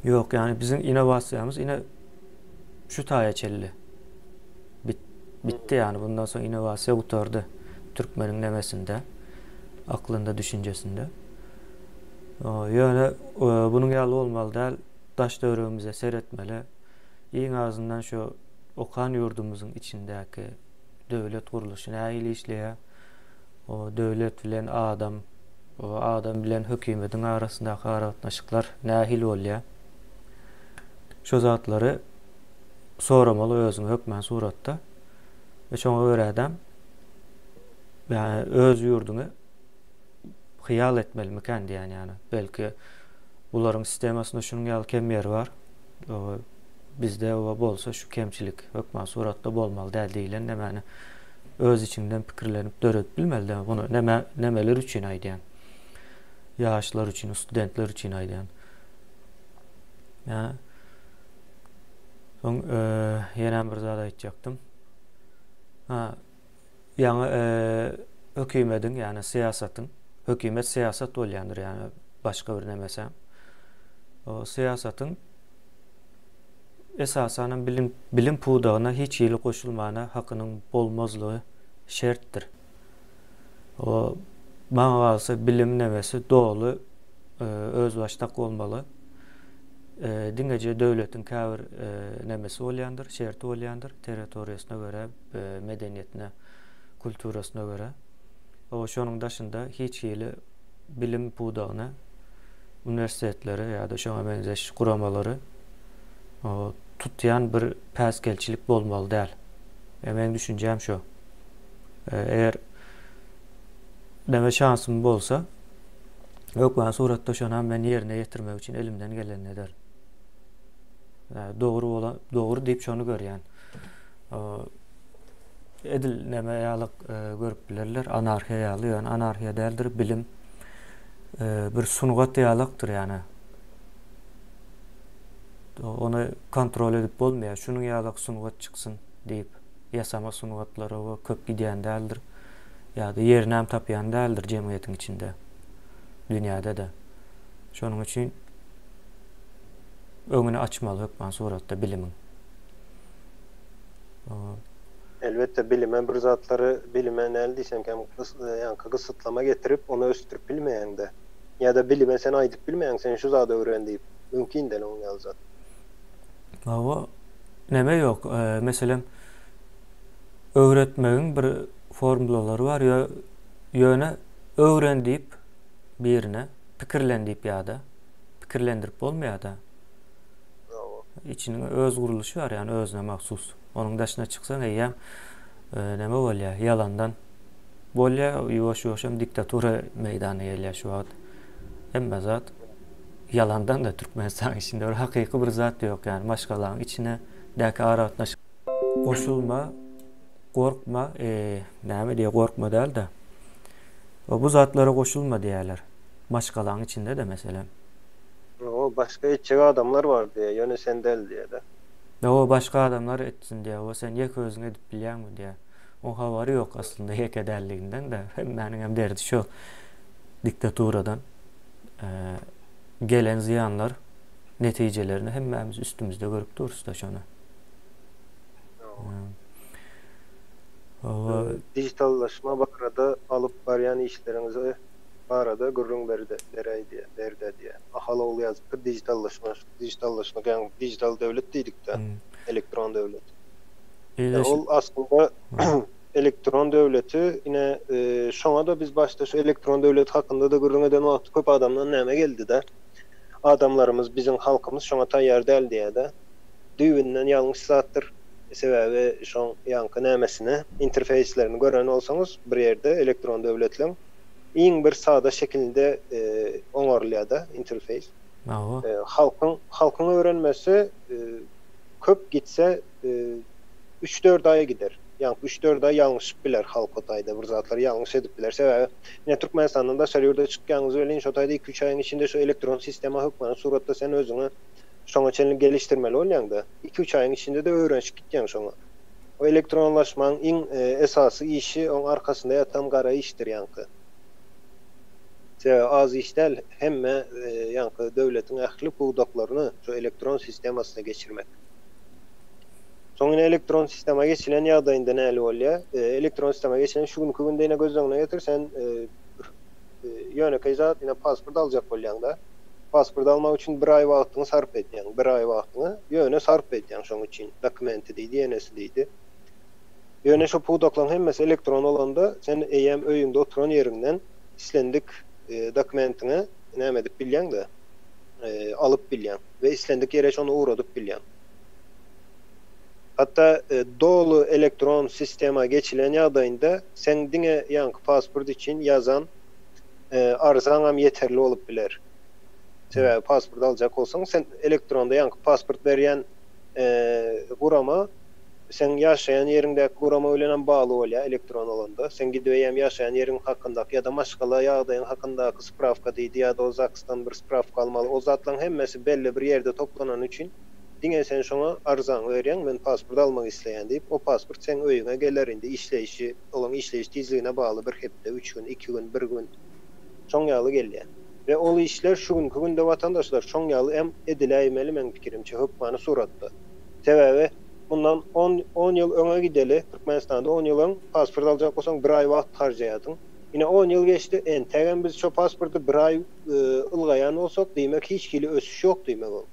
Ýok, ýagny biziň innowasiýamyz ine şu taýa çelli. Bitdi ýagny bundan soň innowasiýa gutardy türkmeniň nemesinde, aklynda, düşünjesinde. Ýöne bunuň ýaly bolmaly däl, daş-töweregimize seretmeli. Iň azyndan şu okan ýurdumyzyň içindäki döwlet gurluşy nähili işleýär? O döwlet bilen adam, o adam bilen hökümediň arasyndaky aragatnaşyklar nähili bolýar? Şu zatlary soramaly özüňi hökmän suratda. Şoňa görä-däm öz ýurduňy hyýal etmelimikän diýýän ýaly. Belki bularyň sistemasynda şunuň ýaly kem ýeri bar. Oba bizde oba bolsa şu kemçilik hökman suratda bolmaly däl diýlen nämäni öz içiňden pikirlenip döredip bilmeli däl. Muny näme nämeler üçin aýdýan? Ýaşlar üçin, studentler üçin aýdýan. Ýa Soň e, ýene bir zat aýtjakdym. Ha, Ýaňy hökümediň, ýagny syýasatyň, hökümet syýasat bolýandyr, ýagny başga bir nemese. O syýasatyň esasanam bilim bilim pudagyna hiç hili goşulmana hakynyň bolmazlygy şertdir. O maňa galsa bilim nemesi doly özbaşdak bolmaly. Diňeje döwletiň käbir nemesi bolýandyr, şerti bolýandyr, territoriýasyna görä, medeniýetine, kulturasyna görä. O, şonuň daşynda hiç hili bilim pudagyny, uniwersitetleri ýa-da şoňa meňzeş guramalary tutýan bir päsgelçilik bolmaly däl. E, meň düşünjäm şo. E, eger näme şansym bolsa, hökman suratda şonam men ýerine ýetirmek üçin elimden gelenini ederin. E, dogry bolan, dogry diýip şony görýän. edil näme ýaly e, görüp bilerler, anarhiýa ýaly, ýöne anarhiýa däldir, bilim e, bir sungat ýalykdyr, ýöne ony kontrol edip bolmaýar. Şunuň ýaly sungat çyksyn diýip, ýasama sungatlara we köp gidýän däldir. Ýa-da ýerini hem tapýan däldir jemgyýetiň içinde. Dünýäde-de. Şonuň üçin öňüni açmaly hökman suratda bilimiň. Elbetde bilime bir zatlary bilime näl diýseň hem ýaňky gysytlama getirip ony ösdürip bilmeýäňdä. Ýa-da bilime sen aýdyp bilmeýäň sen şu zady öwren diýip. Mümkin däl onuň ýaly zat. Hawa neme ýok meselem öwretmegiň bir formlalary bar ýöne öwren diýip birine pikirlen diýip ýa-da pikirlendirip bolmaýada. Içiniň öz gurluşy bar ýani özüne mahsus. Onuň daşyna çyksaň eýýäm e, näme bolýar? Ýalandan bolýar, ýuwaş-ýuwaşam diktatura meýdana gelýär şu wagt. Hemme zat ýalandan da Türkmenistanyň içinde bir hakyky bir zat ýok ýani maşgalaň içine däki aragatnaşyk goşulma, gorkma, e, näme diýýär, gorkma däl-de, bu zatlara goşulma diýýärler. maşgalaň içinde-de meselem. Hawa, başga etjek adamlar bar diýýä, ýöne sen däl diýýä-dä. Hawa, başga adamlar etsin diýýä, o sen ýeke özüň edip bilýäňmi diýýä. Oň habary ýok aslynda ýeke däldiginden-de, hemmäniňem derdi şo diktaturadan gelen zyýanlar netijelerini hemmämiz üstümizde görüp durus-da şony. Hawa. Dijitallaşma barada alyp barýan işleriňize barada gürrüň beräýdi, berdi diýýär. Ahal ogly ýazypdyr, dijitallaşma, dijitallaşmak, ýagny dijital döwlet diýdik-dä, elektron döwlet. Ýa ol aslynda elektron döwleti ine şoňa-da biz başda şu elektron döwlet hakynda-da gürrüň eden wagty köp adamdan näme geldi-de, adamlarymyz, biziň halkymyz şoňa taýýar däl diýýär-de. Düýbünden ýalňyş zatdyr. Sebäbi şoň ýaňky nämesini, interfeýslerini gören bolsaňyz bir ýerde elektron döwletleň, iň bir sada şekilinde oňarylýar-da interfeýs. Hawa. Halkyň halkyň öwrenmesi köp gitse üç-dört aýa gider. Ýaňky üç-dört aý ýalňyşyp biler halk o taýda bir zatlar ýalňyş edip biler. Sebäbi ine Türkmenistandan daşary ýurda çykýanyňyz welin şo taýda iki-üç aýyň içinde şu elektron sistema hökmany suratda sen özüňi şoňa çenli gelişdirmeli bolýaň-da. Iki-üç aýyň içinde-de öwrenişip gitýäň şoňa. Bu elektronlaşmaň iň esasy işi oň arkasynda ýatan gara işdir ýaňky. Sebäbi az iş däl hemme ýaňky döwletiň ähli pudaklaryny şu elektron sistemasyna geçirmek. Soň ine elektron sistema geçilen ýagdaýynda näli bolýar? Elektron sistema geçilen şu günki günde ine göz öňüne getir sen Ýönekeý zat, ine, pasport aljak bolýaň-da. Pasport almak üçin bir aý wagtyňy sarp edýäň. Bir aý wagtyňy ýöne sarp edýäň şoň üçin. Dokumenti diýdi, ýenesi diýdi. Ýöne şu pudaklaryň hemmesi elektron bolanda, sen eýýäm öýüňde oturan ýeriňden islendik dokumentiňi näme edip bilýäň-de, alyp bilýäň we islendik ýere şony ugradyp bilýäň. Hatda doly elektron sistema geçilen ýagdaýynda seň diňe ýaňky pasport üçin ýazan arzaňam ýeterli bolup biler. Sebäbi pasport aljak bolsaň, sen elektronda ýaňky pasport berýän gurama seň ýaşaýan ýeriňdäki gurama bilenem bagly bolýar elektron bolanda. Seň gidip eýýäm ýaşaýan ýeriň hakyndaky ýa-da maşgala ýagdaýyň hakyndaky sprawka diýdi ýa-da o ZAKS-dan bir sprawka almaly. O zatlaryň hemmesi belli bir ýerde toplanany üçin, Diňe sen şoňa arzaňy berýäň, men pasport almak isleýän diýip, o pasport seň öýüňe geler, indi işleýşi, olaň işleýiş tizligine bagly bir hepde, üç gün, iki gün, bir gün, şoň ýaly gelýär we ol işler şu günki günde watandaşlar şoň ýaly hem ediläýmeli meň pikirimçe hökmany suratda. Sebäbi mundan on, on ýyl öňe gideli, Türkmenistanda on ýyl öň pasport aljak bolsaň bir aý wagt harjaýardyň, ine on ýyl geçdi, entägem biz şo pasporty bir aý ylgaýan bolsak, diýmek hiç hili ösüş ýok diýmek ol.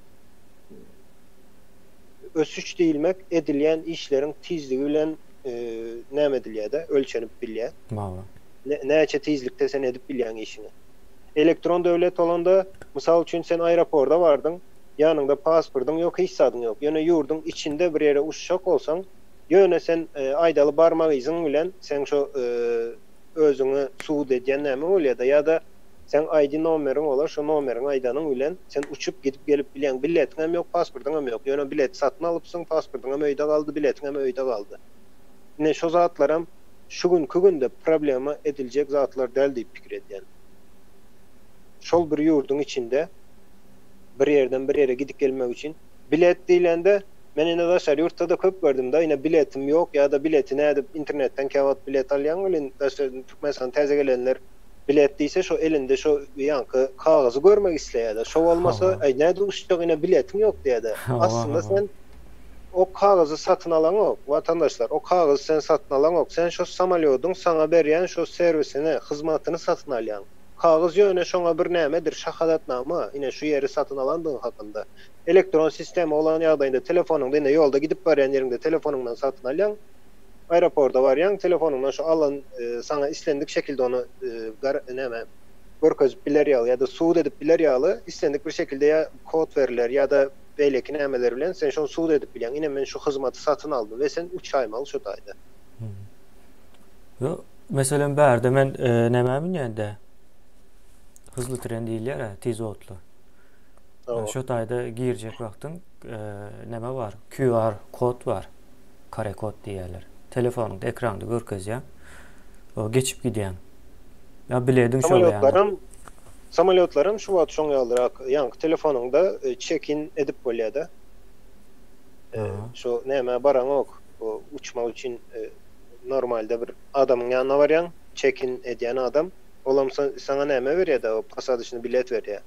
Ösüş diýilmek edilýän işleriň tizligi bilen näme edilýär-de, ölçenip bilýär. Näçe tizlikde sen edip bilýäň işiňi. Elektron döwlet bolanda, mysal üçin, sen aeroporda bardyň, ýanyňda pasportyň ýok, hiç zadyň ýok, ýöne ýurduň içinde bir ýere uçjak bolsaň, ýöne sen aýdaly barmak yzyň bilen sen şo özüňi sud edýän nämeň bolýada ýada seň ID nomeriň bolar şo nomeriňi aýdanyň bilen sen uçup gidip gelip bilýäň biletiňem ýok pasportyňam ýok ýöne bileti satyn alypsyň pasportyňam öýde galdy biletiňem öýde galdy ine şo zatlaram şu günki günde problema ediljek zatlar däl diýip pikir edýän şol bir ýurduň içinde bir ýerden bir ýere gidip gelmek üçin. Bilet diýlende men ine daşary ýurtda-da köp gördüm-da, ine biletim ýok ýa-da bileti nädip internetden käwagt bilet alýaň welin Türkmenistana täze gelenler bilet diýse şo elinde şo ýaňky kagyzy görmek isleýärler. Şo bolmasa äý nädip uçjak ine biletiň ýok diýädä. Aslynda sen o kagyzy satyn alaňok watandaşlar, o kagyzy sen satyn alaňok, sen şo samolýodyň saňa berýän şo serwisini, hyzmatyny satyn alýaň. Kagyz ýöne şoňa bir nämedir şahadatnama, ine şu ýeri satyn alandygyň hakynda. elektron sistema bolan ýagdaýynda telefonyňda ine ýolda gidip barýan ýeriňde telefonyňdan satyn alýaň, aeroporda barýaň telefonyňdan şu alan saňa islendik şekilde ony näme görkezip biler ýaly ýa-da subut edip biler ýaly islendik bir şekilde ýa kod beriler ýa-da beýleki nämeler bilen sen şony subut edip bilýäň ine men şu hyzmaty satyn aldym we sen üç aý maal şu taýda. Meselem bärde men nämä münýän-dä? Hyzly tren diýilýär-ä tiz otly. Şu taýda girjek wagtyň näme bar? QR kod bar. Kare kod diýýärler. Telefonyňda ekranda görkezýär. O geçip gidýär. Ýa bilediň şol ýaly. Samolýotlaram şu wagt şoň ýalyrak. Ýaňky telefonyňda çekin edip bolýar-da. Şu nämä baraňok. Bu uçmak üçin normalde bir adamyň ýanyna barýaň. Çekin edýän adam. Olam saňa näme berýär-dä, o posadyçny bilet berýär.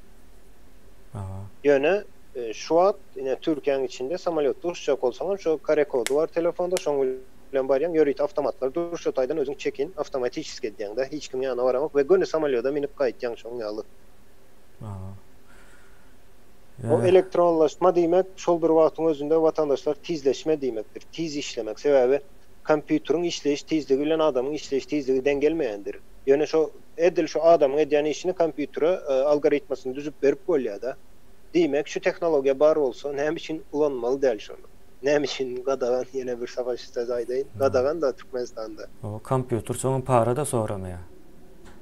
Ýöne, şu wagt ine Türkiýäň içinde samolýotda uçjak bolsaňam, şo kare kody bar telefonda, şoň bilen barýaň, ýörite awtomatlar dur, şo taýdan özüň çekin awtomatiçeskiý edýäň-dä, hiç kim ýanyna baramok we göni samolýoda münüp gaýtýaň şoň ýaly. Bu elektronlaşma diýmek, şol bir wagtyň özünde watandaşlar tizleşme diýmekdir, tiz işlemek. Sebäbi. Kompýuteriň işleýiş tizligi bilen adamyň işleýiş tizligi deň gelmeýändir. Ýöne şo edil şu adamyň edýän işini kompýutere algoritmasyny düzüp berip bolýa-da. Diýmek, şu tehnologiýa bar bolsa, näme üçin ulanmaly däl şony? Näme üçin gadagan? Ýene bir savaş sözi aýdaýyn. Gadagan-da Türkmenistanda. Hawa, kompýuter soňam para-da soramaýar.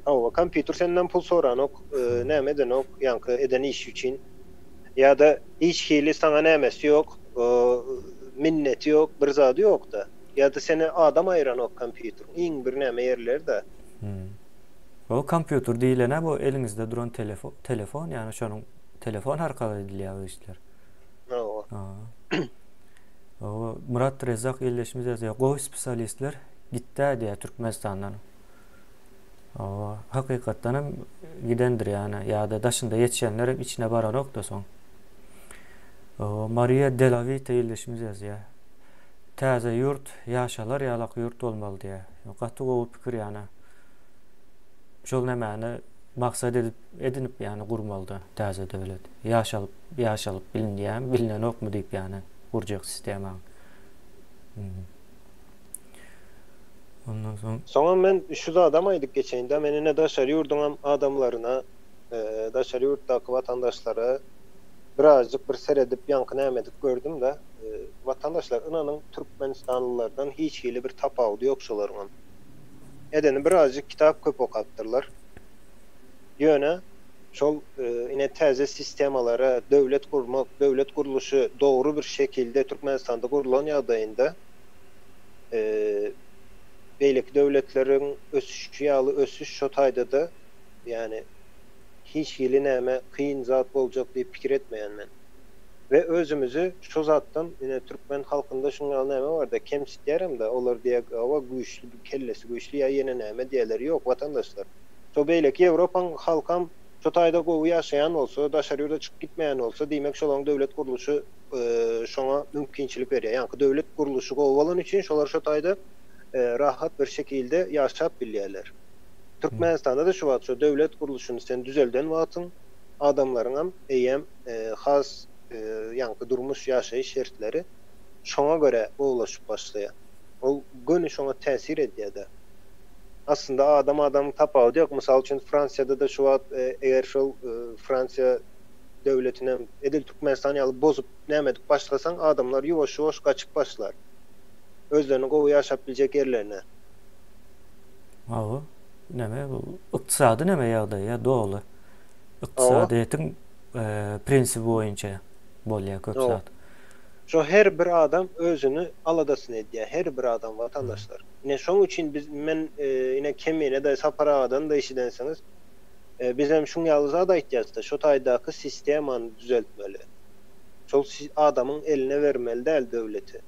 Hawa, kompýuter senden pul soranok, näme edenok, ýaňky eden işi üçin. Ýa-da hiç hili saňa nämesi ýok, minneti ýok, bir zady ýok-da. Ýa-da seni adam aýyranok kompýuteriň iň birnäme ýerleri-de. Hum. O kompýuter diýlen-ä bu eliňizde duran telefon, ýagny şonuň telefon arkaly edilýär bu işler. Hawa. Hawa. Myrat Rezzak ildeşimiz ýazýar, Gowy spesialistler gitdä diýýär Türkmenistandan. Hawa, hakykatdan hem gidendir ýana ýa-da daşynda ýetişenler hem içine baranok-da soň. Hawa, Maria Delavita ildeşimiz ýazýar. Täze ýurt ýaşalar ýalak ýurt bolmaly diýýär. Gaty gowy pikir ýana. Şol nämäni maksat edip edinip ýana gurmaly-da täze döwlet. Ýaşalyp ýaşalyp bilinýämi, bilinenokmy diýip ýana gurjak sistemaň. Ondan soň Soňam men şu zadam aýdyp geçeýin-dä, men ine daşary ýurduňam adamlaryna, daşary ýurtdaky watandaşlara birazjyk bir seredip, ýaňky-näme edip gördüm-dä. Watandaşlar, ynanyň, türkmenistanlylardan hiç hili bir tapawudy ýok şolaryňam. Edeni birazjyk kitap köp okapdyrlar. Ýöne şol ine täze sistemalara, döwlet gurmak, döwlet gurluşy dogry bir şekilde Türkmenistanda gurlan ýagdaýynda, beýleki döwletleriň ösüşi ýaly ösüş şo taýda-da, ýagny hiç hili näme kyn zat boljak diýip pikir etmeýän men. We özümizi şo zatdan, ine türkmen halkynda şuň ýaly näme bar-da, kemsitýärem-de, olar diýýär, hawa güýçli, kellesi güýçli ýa ýene näme diýerler. Ýok, watandaşlar. Şo beýleki Ýewropaň halkam şo taýda gowy ýaşaýan bolsa, daşary ýurda çykyp gitmeýän bolsa, diýmek şolaryň döwlet gurluşy, şoňa mümkinçilik berýär. Ýaňky döwlet gurluşy gowy bolany üçin şolar şo taýda rahat bir şekilde ýaşap bilýärler. Türkmenistanda-da şu wagt şo döwlet gurluşyny sen düzelden wagtyň adamlaryňam eýýäm has ýaňky durmuş, ýaşaýyş şertleri şoňa görä gowulaşyp başlaýar. Ol göni şoňa täsir edýär-de. Aslynda adam adamyň tapawudy ýok. Mysal üçin Fransiýada-da şu wagt eger şol Fransiýa, döwletinem edil Türkmenistan ýaly bozup näme edip başlasaň adamlar ýuwaş-ýuwaş gaçyp başlar. Özlerini gowy ýaşap biljek ýerlerine. Hawa. Näme bu ykdysady näme ýagdaý ýa doly ykdysadyýetiň prinsibi boýunça bolýa köp zat. Şo her bir adam özüni aladasyny edýä her bir adam watandaşlar. Ine şoň üçin biz men ine Kemine daýy Sapar agadan da eşidensiňiz. Bizem şuň ýaly zat aýtýasda, şo taýdaky sistemany düzeltmeli. Şol adamyň eline bermeli däl döwleti.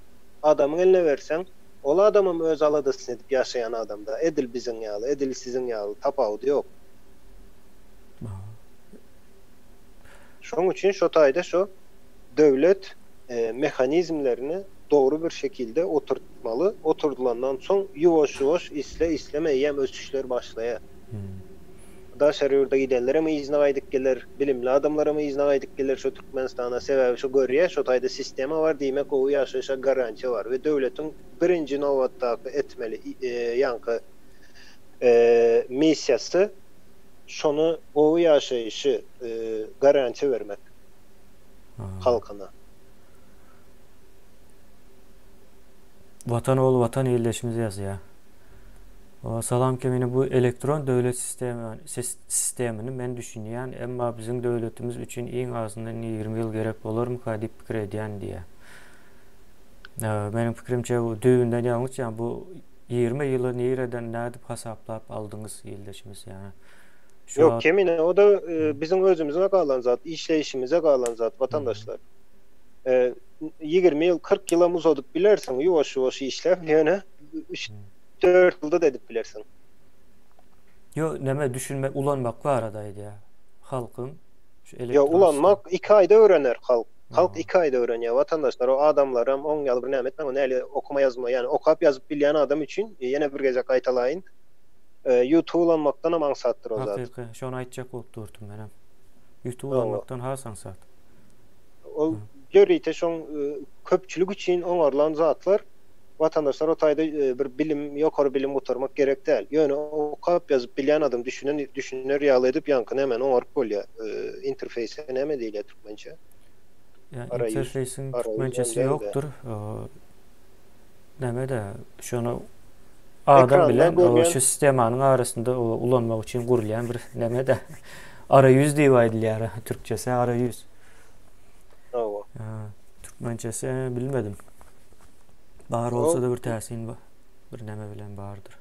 Adamyň eline berseň, ol adamam öz aladasyny edip ýaşaýan adamda. Edil biziň ýaly, edil siziň ýaly, tapawudy ýok. Şoň üçin şo taýda şo döwlet mehanizmlerini dogry bir şekilde oturtmaly. Oturdylandan soň ýuwaş-ýuwaş isle-isleme eýýäm ösüşler başlaýar. Daşary ýurda gidenlerem yzyna gaýdyp geler, bilimli adamlaram yzyna gaýdyp geler şu Türkmenistana, sebäbi şu görýä şu taýda sistema bar diýmek gowy ýaşaýşa garantiýa bar we döwletiň birinji nobatdaky etmeli ýaňky missiýasy şony gowy ýaşaýşy garantiýa bermek halkyna. Watan ol watan ildeşimiz ýazýar. Salam Kemine bu elektron döwlet sistemini men düşünýän emma biziň döwletimiz üçin iň azyndan ýigrimi ýyl gerek bolarmyka diýip pikir edýän diýýär. Meniň pikirimçe bu düýbünden ýalňyş ýa bu ýigrimi ýyly nireden nädip hasaplap aldyňyz ildeşimiz ýa şu Ýok Kemine o-da biziň özümize galan zat işleýişimize galan zat watandaşlar. Ýigrimi ýyl kyrk ýylam uzadyp bilersiň ýuwaş ýuwaş işläp ýöne dört ýylda-da edip bilersiň. Ýo näme düşünmek ulanmak barada aýdýa halkyň şu elektron. Ýo ulanmak iki aýda öwrener halk. Halk iki aýda öwrenýä watandaşlar o adamlaram oň ýaly bir näme etmäň ony heli okuma ýazma ýani okap ýazyp bilýän adam üçin ýene bir gezek gaýtalaýyn ýutuby ulanmakdanam aňsatdyr o zat. Hakyky şony aýtjak bolup durdum menem ýutuby ulanmakdan has aňsat. Ol ýörite şoň köpçülik üçin oňarlan zatlar. Watandaşlar o taýda bir bilim, ýokary bilim gutarmak gerek däl. Ýöne okap ýazyp bilýän adam düşünen düşüner ýaly edip ýaňky nämäni oňaryp bolýar. Interfeýse näme diýilýär türkmençe? Interfeýsiň türkmençesi ýokdur. Näme-de şony adam bilen şu sistemanyň arasynda ulanmak üçin gurulýan bir näme-de ara ýüz diýip aýdylýar türkçesi ara ýüz. Hawa. Türkmençesi bilmedim. Bar bolsa-da bir täsin bar. Bir näme bilen bardyr.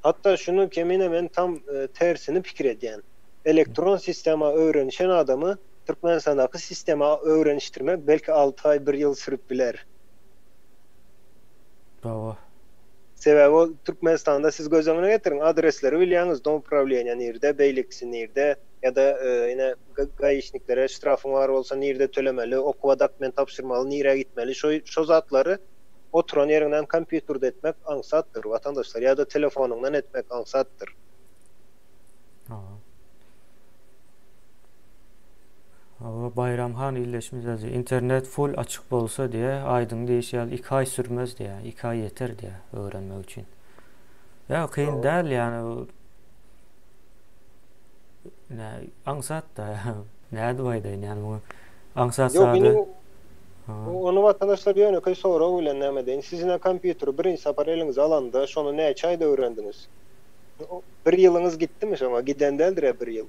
Hatda şuny Kemine men tam tersini pikir edýän. Elektron sistema öwrenişen adamy Türkmenistandaky sistema öwrenişdirmek belki alty aý, bir ýyl sürüp biler. Hawa. Sebäbi ol Türkmenistanda siz göz öňüne getiriň, adresleri bilýäňiz, domuprawilenýa nirde, beýlekisi nirde. ýa-da ine gaýişniklere ştrafyň bar bolsa nirde tölemeli, okuwa dokument tabşyrmaly nirä gitmeli şo zatlary oturan ýeriňden kompýuterde etmek aňsatdyr watandaşlar ýa-da telefonyňdan etmek aňsatdyr. Hawa Baýram han illeşmez ýazýar internet full açyk bolsa diýýä aýdyň diýişi ýaly iki aý sürmez diýýä iki aý ýeter diýýä öwrenmek üçin ýa kyn däl ýa. Nä, aňsat da. Nädip aýdaýyn ýani muňa? Aňsat Ýok, zady. indi bu- ony watandaşlar ýönekeý sorag bilen näme diýen. Sizinä kompýuteri birinji sapar eliňize alanda, şony näçe aýda öwrendiňiz? Bir ýylyňyz gitdimi şoňa? Giden däldir-ä bir ýyl.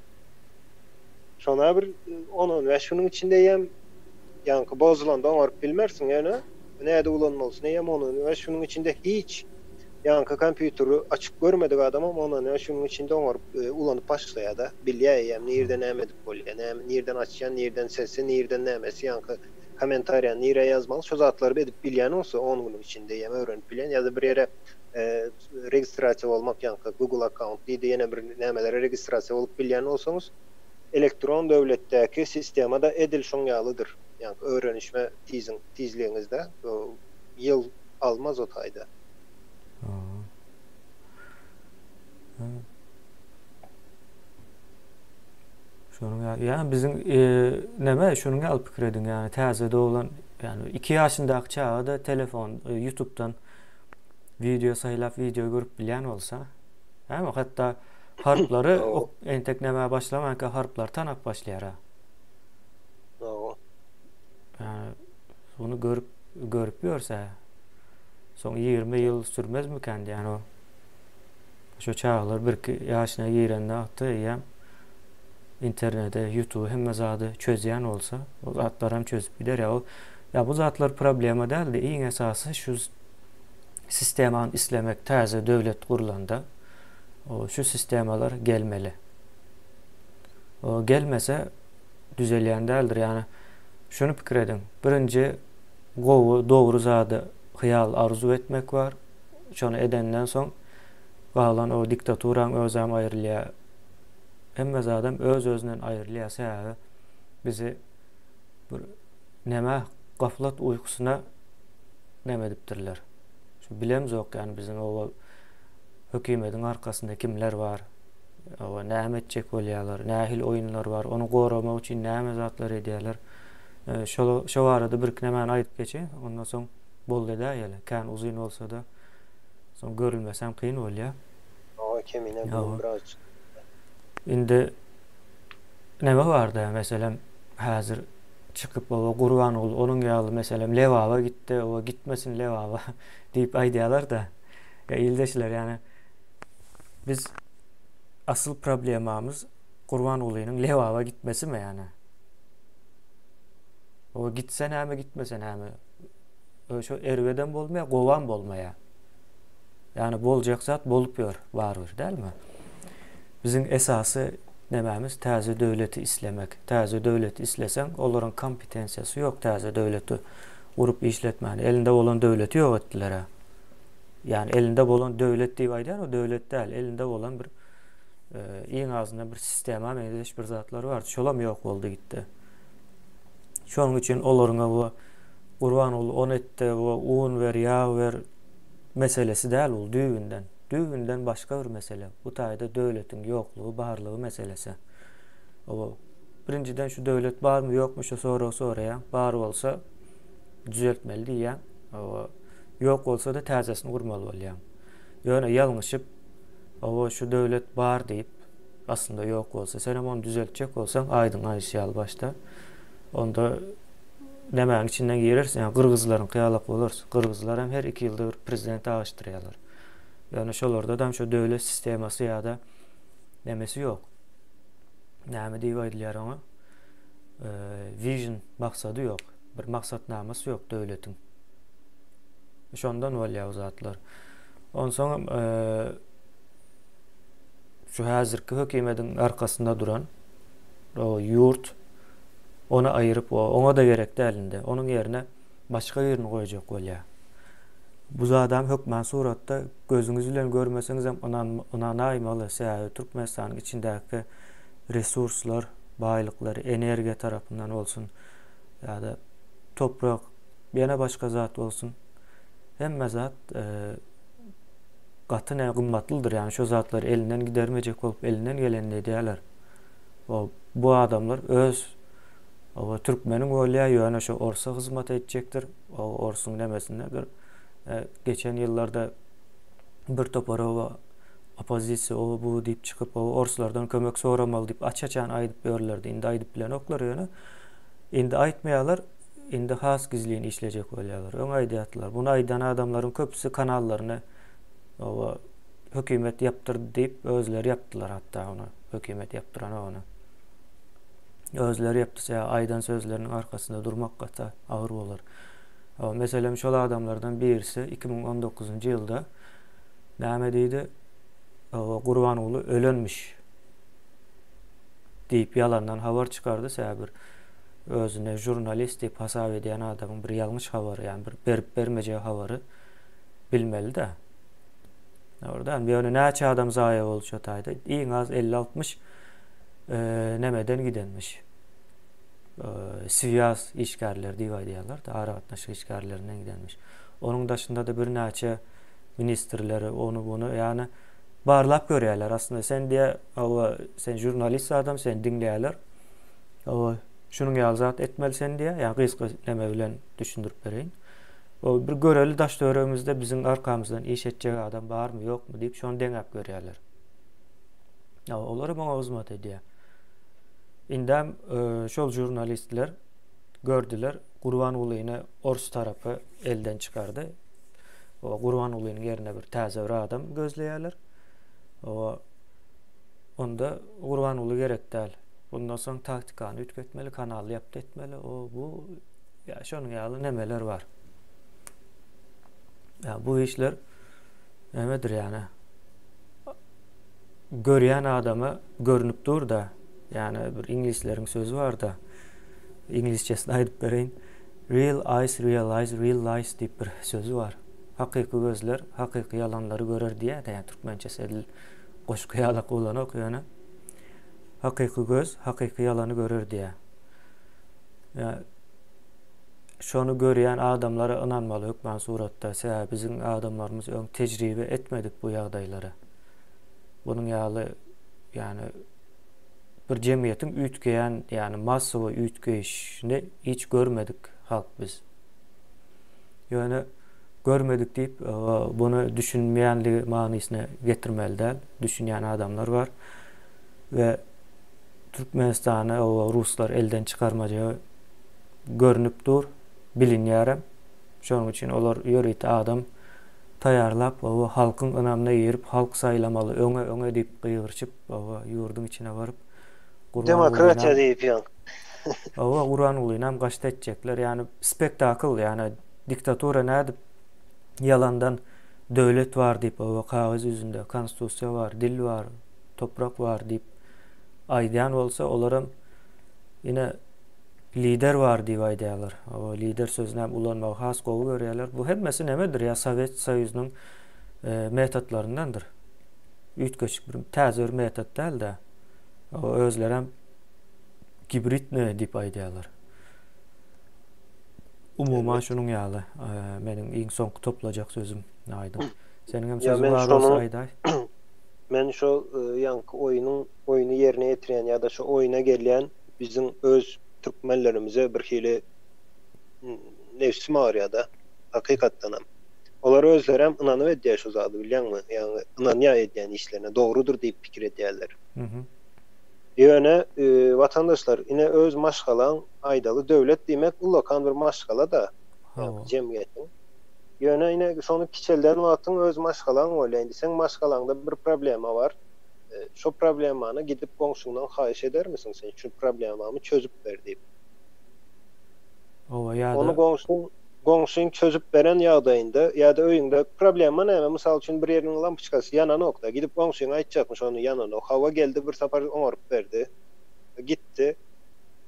Şonä bir on-on bäş günüň içinde eýýäm ýaňky bozulanda oňaryp bilmersiň, ýöne. Bu näde ulanmalysy näme ony we şunuň içinde hiç ýaňky kompýuteri açyp görmedik adamam ony we şunuň içinde oňaryp ulanyp başlaýada bilýä eýýäm nirde näme edip bolýa näme nirden açýa nirden sesi nirden nämesi ýaňky komentariýa nirä ýazmaly şu zatlary edip bilýän bolsa on günüň içinde eýýäm öwrenip bilýän ýa-da bir ýere registrasiýa bolmak ýaňky google account diýdi ýene bir nämelere registrasiýa bolup bilýän bolsaňyz elektron döwletdäki sistemada edil şoň ýalydyr ýaňky öwrenişme tiziň tizligiňizde ýyl almaz o taýda. Şonuň ýaly. Ýa biziň näme şonuň ýaly pikir ediň ýa täze doglan ýa iki ýaşyndaky çaga-da telefon ýutubdan wideo saýlap wideo görüp bilýän bolsa. Näme hatda harplary entek näme başlamanka harplary tanap başlaýar-a. Muny görüp, görüp ýörse, soň 20 ýyl sürmezmikän diýen o. Şu çagalar birki ýaşyna girende atda eýýäm internete, YouTube hemme zady çözýän bolsa, o zatlar hem çözüp gider ýa o. Ýa bu zatlar problema däldi. Iň esasy şu sistemany islemek täze döwlet gurlanda o şu sistemalar gelmeli. O gelmese düzelýän däldir. Ýagny şuny pikir ediň. Birinji gowy, dogry zady hyýal, arzuw etmek bar. Şony edenden soň galan o diktaturaň özem aýrylýar. Hemme zadam öz-özünden aýrylýar. Sebäbi bizi bir nämä gaflat uýkusyna näme edipdirler. Şu bilemzok ýagny biziň o hökümediň arkasynda kimler bar. Hawa, näme etjek bolýarlar? Nähili oýunlar bar? Ony goramak üçin näme zatlar edýärler? Şol şo barada birki nämäni aýdyp geçe, ondan soň boldy-da ýaly. Kän uzyn bolsa-da, soň görülmesem kyn bolýar. Hawa, kemine bu biraz. Indi näme barda, meselem, häzir çykyp, oba Gurbanguly onuň ýaly, meselem, Lebaba gitdi, oba gitmesin Lebaba diýip aýdýarlar-da. Ýa ildeşler ýany biz asyl problemamyz Gurbangulynyň Lebaba gitmesimi ýa-da? O gitse näme, gitmese näme? Öşo erwedem bolmaýar, gowam bolmaýar. Ýani boljak zat bolup ýör barybir, dälmi? Biziň esasy nämämiz täze döwleti islemek. Täze döwleti isleseň, olaryň kompetensiýasy ýok täze döwleti gurup işletmäne. Elinde bolan döwleti ýok etdiler-ä. ýagny elinde bolan döwlet diýip aýdýan o döwlet däl elinde bolan bir e, iň azyndan bir sistema meňzeş bir zatlar bar şolam ýok boldy gitdi şonuň üçin olaryňa bu gurban ol on etdi bu un ber ýag ber meselesi däl ol düýbünden düýbünden başga bir mesele bu taýda döwletiň ýoklugy barlygy meselesi o birinjiden şu döwlet barmy ýokmy şu soragy soraýan bar bolsa düzeltmeli diýýäň. Oba ýok bolsa-da täzesini gurmaly bolýaň. Ýöne ýalňyşyp, oba şu döwlet bar diýip, aslynda ýok bolsa, sen hem ony düzeltjek bolsaň, aýdyň aýdyşy ýaly başda, onda nämäň içinden girersiň? Ýa gyrgyzlaryňky ýalak bolarsyň. Gyrgyzlar hem her iki ýylda bir prezident aýyşdyrýarlar. Ýöne şolarda hem şu döwlet sistemasy ýa-da nämesi ýok. Näme diýip aýdylýar oňa? Vision maksady ýok. Bir maksatnamasy ýok döwletiň. Şondan bolýar bu zatlar. Onsoňam şu häzirki hökümetiň arkasynda duran o ýurt ony aýyryp oňa-da gerek däl indi. Onuň ýerine başga birini goýjak bolýar. Bu zadam hökman suratda gözüňiz bilen görmeseňizem ynanaýmaly. Sebäbi Türkmenistanyň içindäki resurslar, baýlyklary, energiýa tarapyndan bolsun, ýa-da toprak, ýene başga zat bolsun. Hemme zat e, gaty ne gymmatlydyr. Ýani şo zatlar elinden gidermejek bolup elinden gelenini edýärler. O bu adamlar öz o türkmeniň bolýar ýöne şo orsa hyzmat etjekdir. O orsuň nemesinde bir e, geçen ýyllarda bir topar o oppozisiýa o bu diýip çykyp o orslardan kömek soramaly diýip aç-açan aýdyp ýörlerdi. Indi aýdyp bilenoklar ýöne Indi aýtmaýarlar, indi has gizlin işlejek bolýarlar. Öň aýdýardylar. Muny aýdan adamlaryň köpüsi kanallaryny oba hökümet ýapdyrdy diýip, özleri ýapdylar hatda ony. Hökümet ýapdyranok ony. Özleri ýapdysa, aýdan sözleriniň arkasynda durmak gaty agyr bolar. Oba, meselem, şol adamlardan birisi iki müň on dokuzynjy ýylda näme diýdi? Oba, Gurbanguly ölenmiş. Diýip ýalandan habar çykardy säbir özüne žurnalist diýip hasap edýän adamyň bir ýalňyş habary ýa bir berip bermejek habary bilmelidä. Dogrudanam ýöne näçe adam zaýa boldy şo taýda iň az elli altmyş nämeden gidenmiş swiýaz işgärleri diýip aýdýarlar da aragatnaşyk işgärlerinden gidenmiş onuň daşynda-da birnäçe ministrleri ony muny ýagny barlap görýärler aslynda sen diýe Hawa, sen žurnalist zadam, seni diňleýärler. Hawa, şunuň ýaly zat etmeli sen diýýär. Ýa gysga neme bilen düşündirip bereýin. Ol bir göreli daş-töweregimizde biziň arkamyzdan iş etjek adam barmy, ýokmy diýip şony deňäp görýärler. Hawa, olar hem oňa hyzmat edýär. Indem e, şol žurnalistler gördüler, Gurbangulyny ors tarapy elden çykardy. O Gurbangulynyň ýerine bir täze bir adam gözleýärler. O Onda Gurbanguly gerek däl. Bundan soň taktikany üýtgetmeli, kanaly ýapdy etmeli. O bu ýa şonuň ýaly nemeler bar. Ýa bu işler nemedir ýa Görýän adama görnüp dur da, ýa bir iňlisleriň sözi bar da, iňlisçesini aýdyp bereýin. Real eyes realize real lies diýip bir sözi bar. Hakyky gözler hakyky ýalanlary görer diýýärdi ýa türkmençesi edil goşgy ýala gulanok ýöne hakyky göz hakyky ýalany görer diýýär. Ýa şony görýän adamlara ynanmaly hökman suratda sebäbi biziň adamlarymyz öň tejribe etmedik bu ýagdaýlary. Bunuň ýaly ýani bir jemgyýetiň üýtgeýän ýani massowy üýtgeýişini hiç görmedik halk biz. Ýöne görmedik diýip, buna düşünmeýänligi manysyna getirmeli däl. Düşünýän adamlar bar we Türkmenistany ruslar elden çykarmaja görünip dur, bilinýärem. Şonuň üçin olar ýörite adam taýýarlap, halkyň ynamyna girip, halk saýlamaly, öňe, öňe diýip gygyrşyp, Oba ýurduň içine baryp Demokratiýa diýip ýöň. Oba Gurangulynam gaşt etjekler ýani spektakl ýani diktatura nädip ýalandan döwlet bar diýip oba kagyz ýüzünde konstusiýa bar dil bar toprak bar diýip aýdýan bolsa olaram ine lider bar diýip aýdýalar oba lider sözünäm ulanmagy has gowy görýäler bu hemmesi nemedir ýa sowet soýuzynyň metotlaryndandyr. üýtgeşik bir täze bir metod däl-de, özlerem gibridne diýip aýdýarlar. Umuman şunuň ýaly, meniň iň soňky toplajak sözüm aýdyň. Seniň hem sözüň bar bolsa aýdaý. Men şu e, ýaňky oýnuň oýny ýerine ýetirýän ýa-da şu oýna gelýän biziň öz türkmenlerimize bir hili nebsim agyrýar-da, hakykatdanam. Olar özlerem ynanyp edýär şu zady bilýäňmi, ýagny ynanýar edýän işlerine, dogrudyr diýip pikir edýärler. Ýöne watandaşlar ine öz maşgalaň aýdaly döwlet diýmek ullakan bir maşgala-da ýagny jemgyýetiň. Ýöne ine şony kiçelden wagtyň öz maşgalaň bolýar. Indi seň maşgalaňda bir problema bar. Şo problemany gidip goňşyňdan haýyş edermisiň sen şu problemamy çözüp ber diýip. Oba ýa-da. Ony goňşyň çözüp beren ýagdaýynda ýa-da öýüňde problema näme? Mysal üçin bir ýeriniň lampoçkasy ýananokda, gidip goňşyňa aýtjakmyş ony ýananok. Hawa geldi bir sapar oňaryp berdi. Gitdi.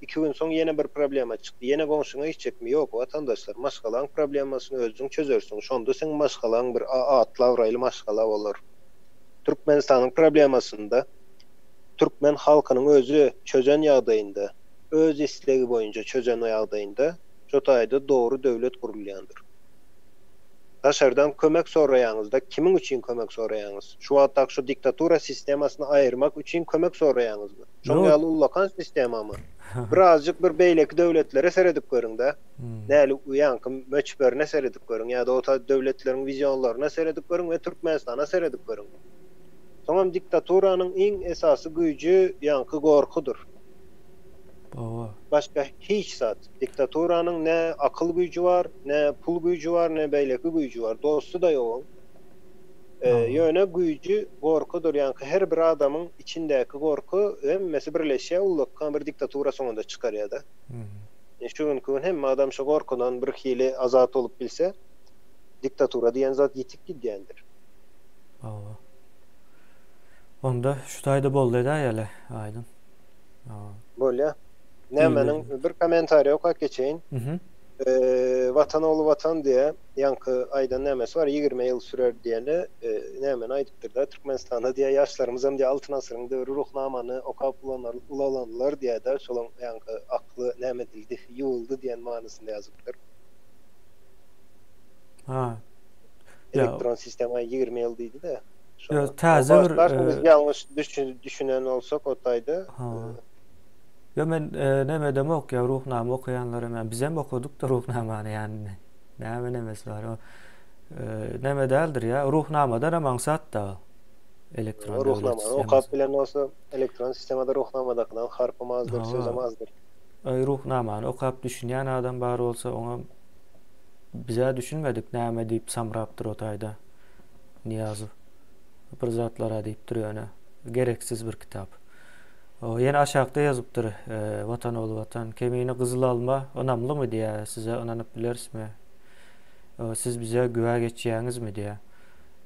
Iki gün soň ýene bir problema çykdy. Ýene goňşyňa gitjekmi? Ýok watandaşlar. Maşgalaň problemasyny özüň çözersiň. Şonda seň maşgalaň bir atly abraýly maşgala bolar. Türkmenistanyň problemasynda türkmen halkynyň özi çözen ýagdaýynda. öz islegi boýunça çözen ýagdaýynda şo taýda dogry döwlet gurulýandyr. Daşardan kömek soraýaňyzda kimiň üçin kömek soraýaňyz? Şu wagtdaky şu diktatura sistemasyny aýyrmak üçin kömek soraýaňyzmy? Şoň ýaly ullakan sistemamy? Bir azjyk bir beýleki döwletlere seredip görüň-dä. Näli u ýanky möçberine seredip görüň ýa-da o taý döwletleriň wizionlaryna seredip görüň we Türkmenistana seredip görüň. Soňam diktaturanyň iň esasy güýji ýanky gorkudyr. Baba. Başga hiç zat. Diktaturanyň ne akyl güýji bar, ne pul güýji bar, ne beýleki güýji bar. Dosty-da ýok oň. Ýöne güýji gorkudyr. Ýaňky her bir adamyň içindäki gorky hemmesi birleşýär, ullakan bir diktatura soňunda çykarýar-da. Ine şu günki gün hemme adam şu gorkudan bir hili azat bolup bilse, diktatura diýen zat ýitip gidýändir. Baba. Onda şu taýda boldy edäýeli, aýdyň. Bolýa. Nämeniň bir kommentariýa okap geçeýin. Watan ogly watan diýýär. Ýaňky aýdan nämesi bar, ýigrimi ýyl sürer diýeni nämeni aýdypdyr-da, Türkmenistanda diýýär, ýaşlarymyzam diýýär Altyn asyryň döwri Ruhnamany okap ulalanlar diýýär-de, şolaň ýaňky akly näme edildi, ýuwuldy diýen manysynda ýazypdyr. Elektron sistema ýigrimi ýyl diýdi-de. Ýok, täze bir... Biz ýalňyş düşünen bolsak o taýda. Ýok, men nämedemok, ýa Ruhnama okaýanlaram, ýa bizem okadykda Ruhnamany, ýani näme nemesi bar. Näme däldir, ýa Ruhnamadanam aňsat-da elektron döwlet sistemasyny. Ruhnamany okap bilen bolsa, elektron sistemada Ruhnamadakydan harpam azdyr, sözem azdyr. Aý, Ruhnamany okap düşünýän adam bar bolsa, oňa biz-ä düşünmedik, näme diýip samrapdyr o taýda. Nyýazow bir zatlar-a diýip dur ýöne, gereksiz bir kitap. O, ýene aşakda ýazypdyr, Watan ogly Watan, Kemine gyzyl alma ynamlymy diýýär, size ynanyp bilerismi? Siz bize güwä geçýäňizmi diýýär.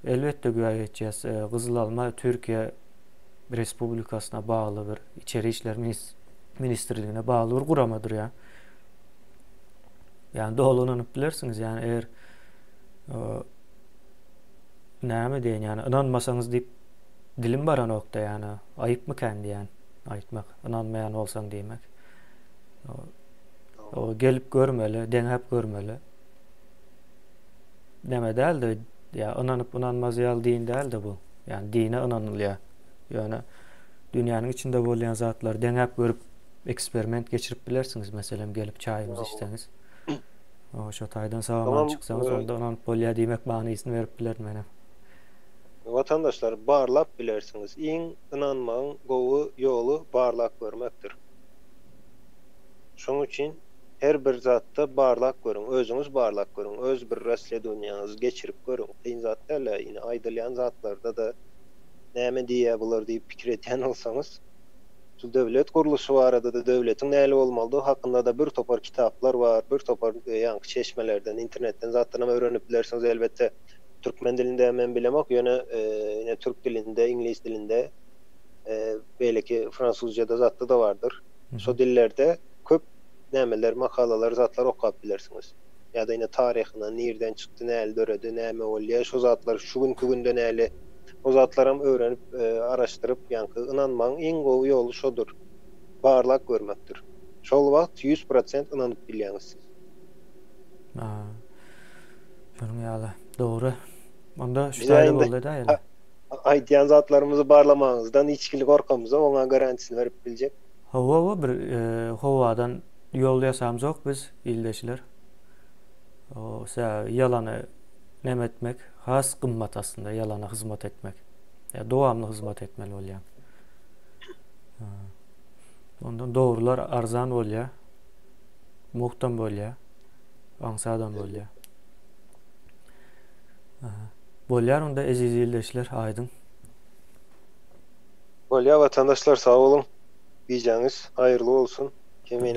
Elbetde güwä geçýäs, gyzyl alma Türkiýe Respublikasyna bagly bir içeri işler ministrligine bagly bir guramadyr ýa. Ýa doly ynanyp bilersiňiz, ýa eger Näme diýen ýany ynanmasaňyz diýip dilim baranokda ýany aýypmy kän diýän aýtmak ynanmaýan bolsaň diýmek. O gelip görmeli, deňäp görmeli. Näme däldi? Ýa ynanyp ynanmaz ýaly din däldi bu. Ýani dine ynanylýar. Ýöne dünýäniň içinde bolýan zatlary deňäp görüp eksperiment geçirip bilersiňiz meselem gelip çaýymyzy içseňiz. O şo taýdan sagaman çyksaňyz onda ynanyp bolýar diýmek manysyny berip bilerin menem. Watandaşlar barlap bilersiňiz iň ynanmagyň gowy ýoly barlap görmekdir. Şoň üçin her bir zatda barlap görüň özüňiz barlap görüň öz bir rasledowniýaňyzy geçirip görüň kyn zat dälä ine aýdylýan zatlarda-da näme diýýä bular diýip pikir edýän bolsaňyz. Şu döwlet gurluşy barada-da, döwletiň nähili bolmalydygy hakynda-da bir topar kitaplar bar, bir topar ýaňky çeşmelerden, internetden zatlaram öwrenip bilersiňiz. Elbetde, türkmen dilinde men bilemok, ýöne ine türk dilinde, iňlis dilinde, beýleki fransuzja-da zatda-da bardyr. Şo dillerde köp nämeler, makalalar, zatlar okap bilersiňiz. ýa-da ine taryhyna nirden çykdy, näli döredi, näme boldy ýa şo zatlar şu günki günde näli o zatlaram öwrenip araşdyryp ýaňky ynanmagyň iň gowy ýoly şodur barlak görmekdir. Şol wagt ýüz prosent ynanyp bilýäňiz siz. A. Şonuň ýaly. Dogry. Onda şu taýda boldy-da ýöne. Aýdýan zatlarymyzy barlamagyňyzdan içgili gorkamyza oňa garantisini berip biljek. Hawa-hawa bir howadan Ýol ýasamzok biz ildeşler. O sä ýalany neme etmek has gymmat aslynda ýalana hyzmat etmek. Ýa dowamly hyzmat etmeli bolýaň. Ondan dogrular arzan bolýa. Muhtam bolýa. Aňsadam bolýa. Bolýar onda eziz ildeşler aýdyň. Bolýa watandaşlar sag boluň. Gijeňiz haýyrly bolsun. Kemine.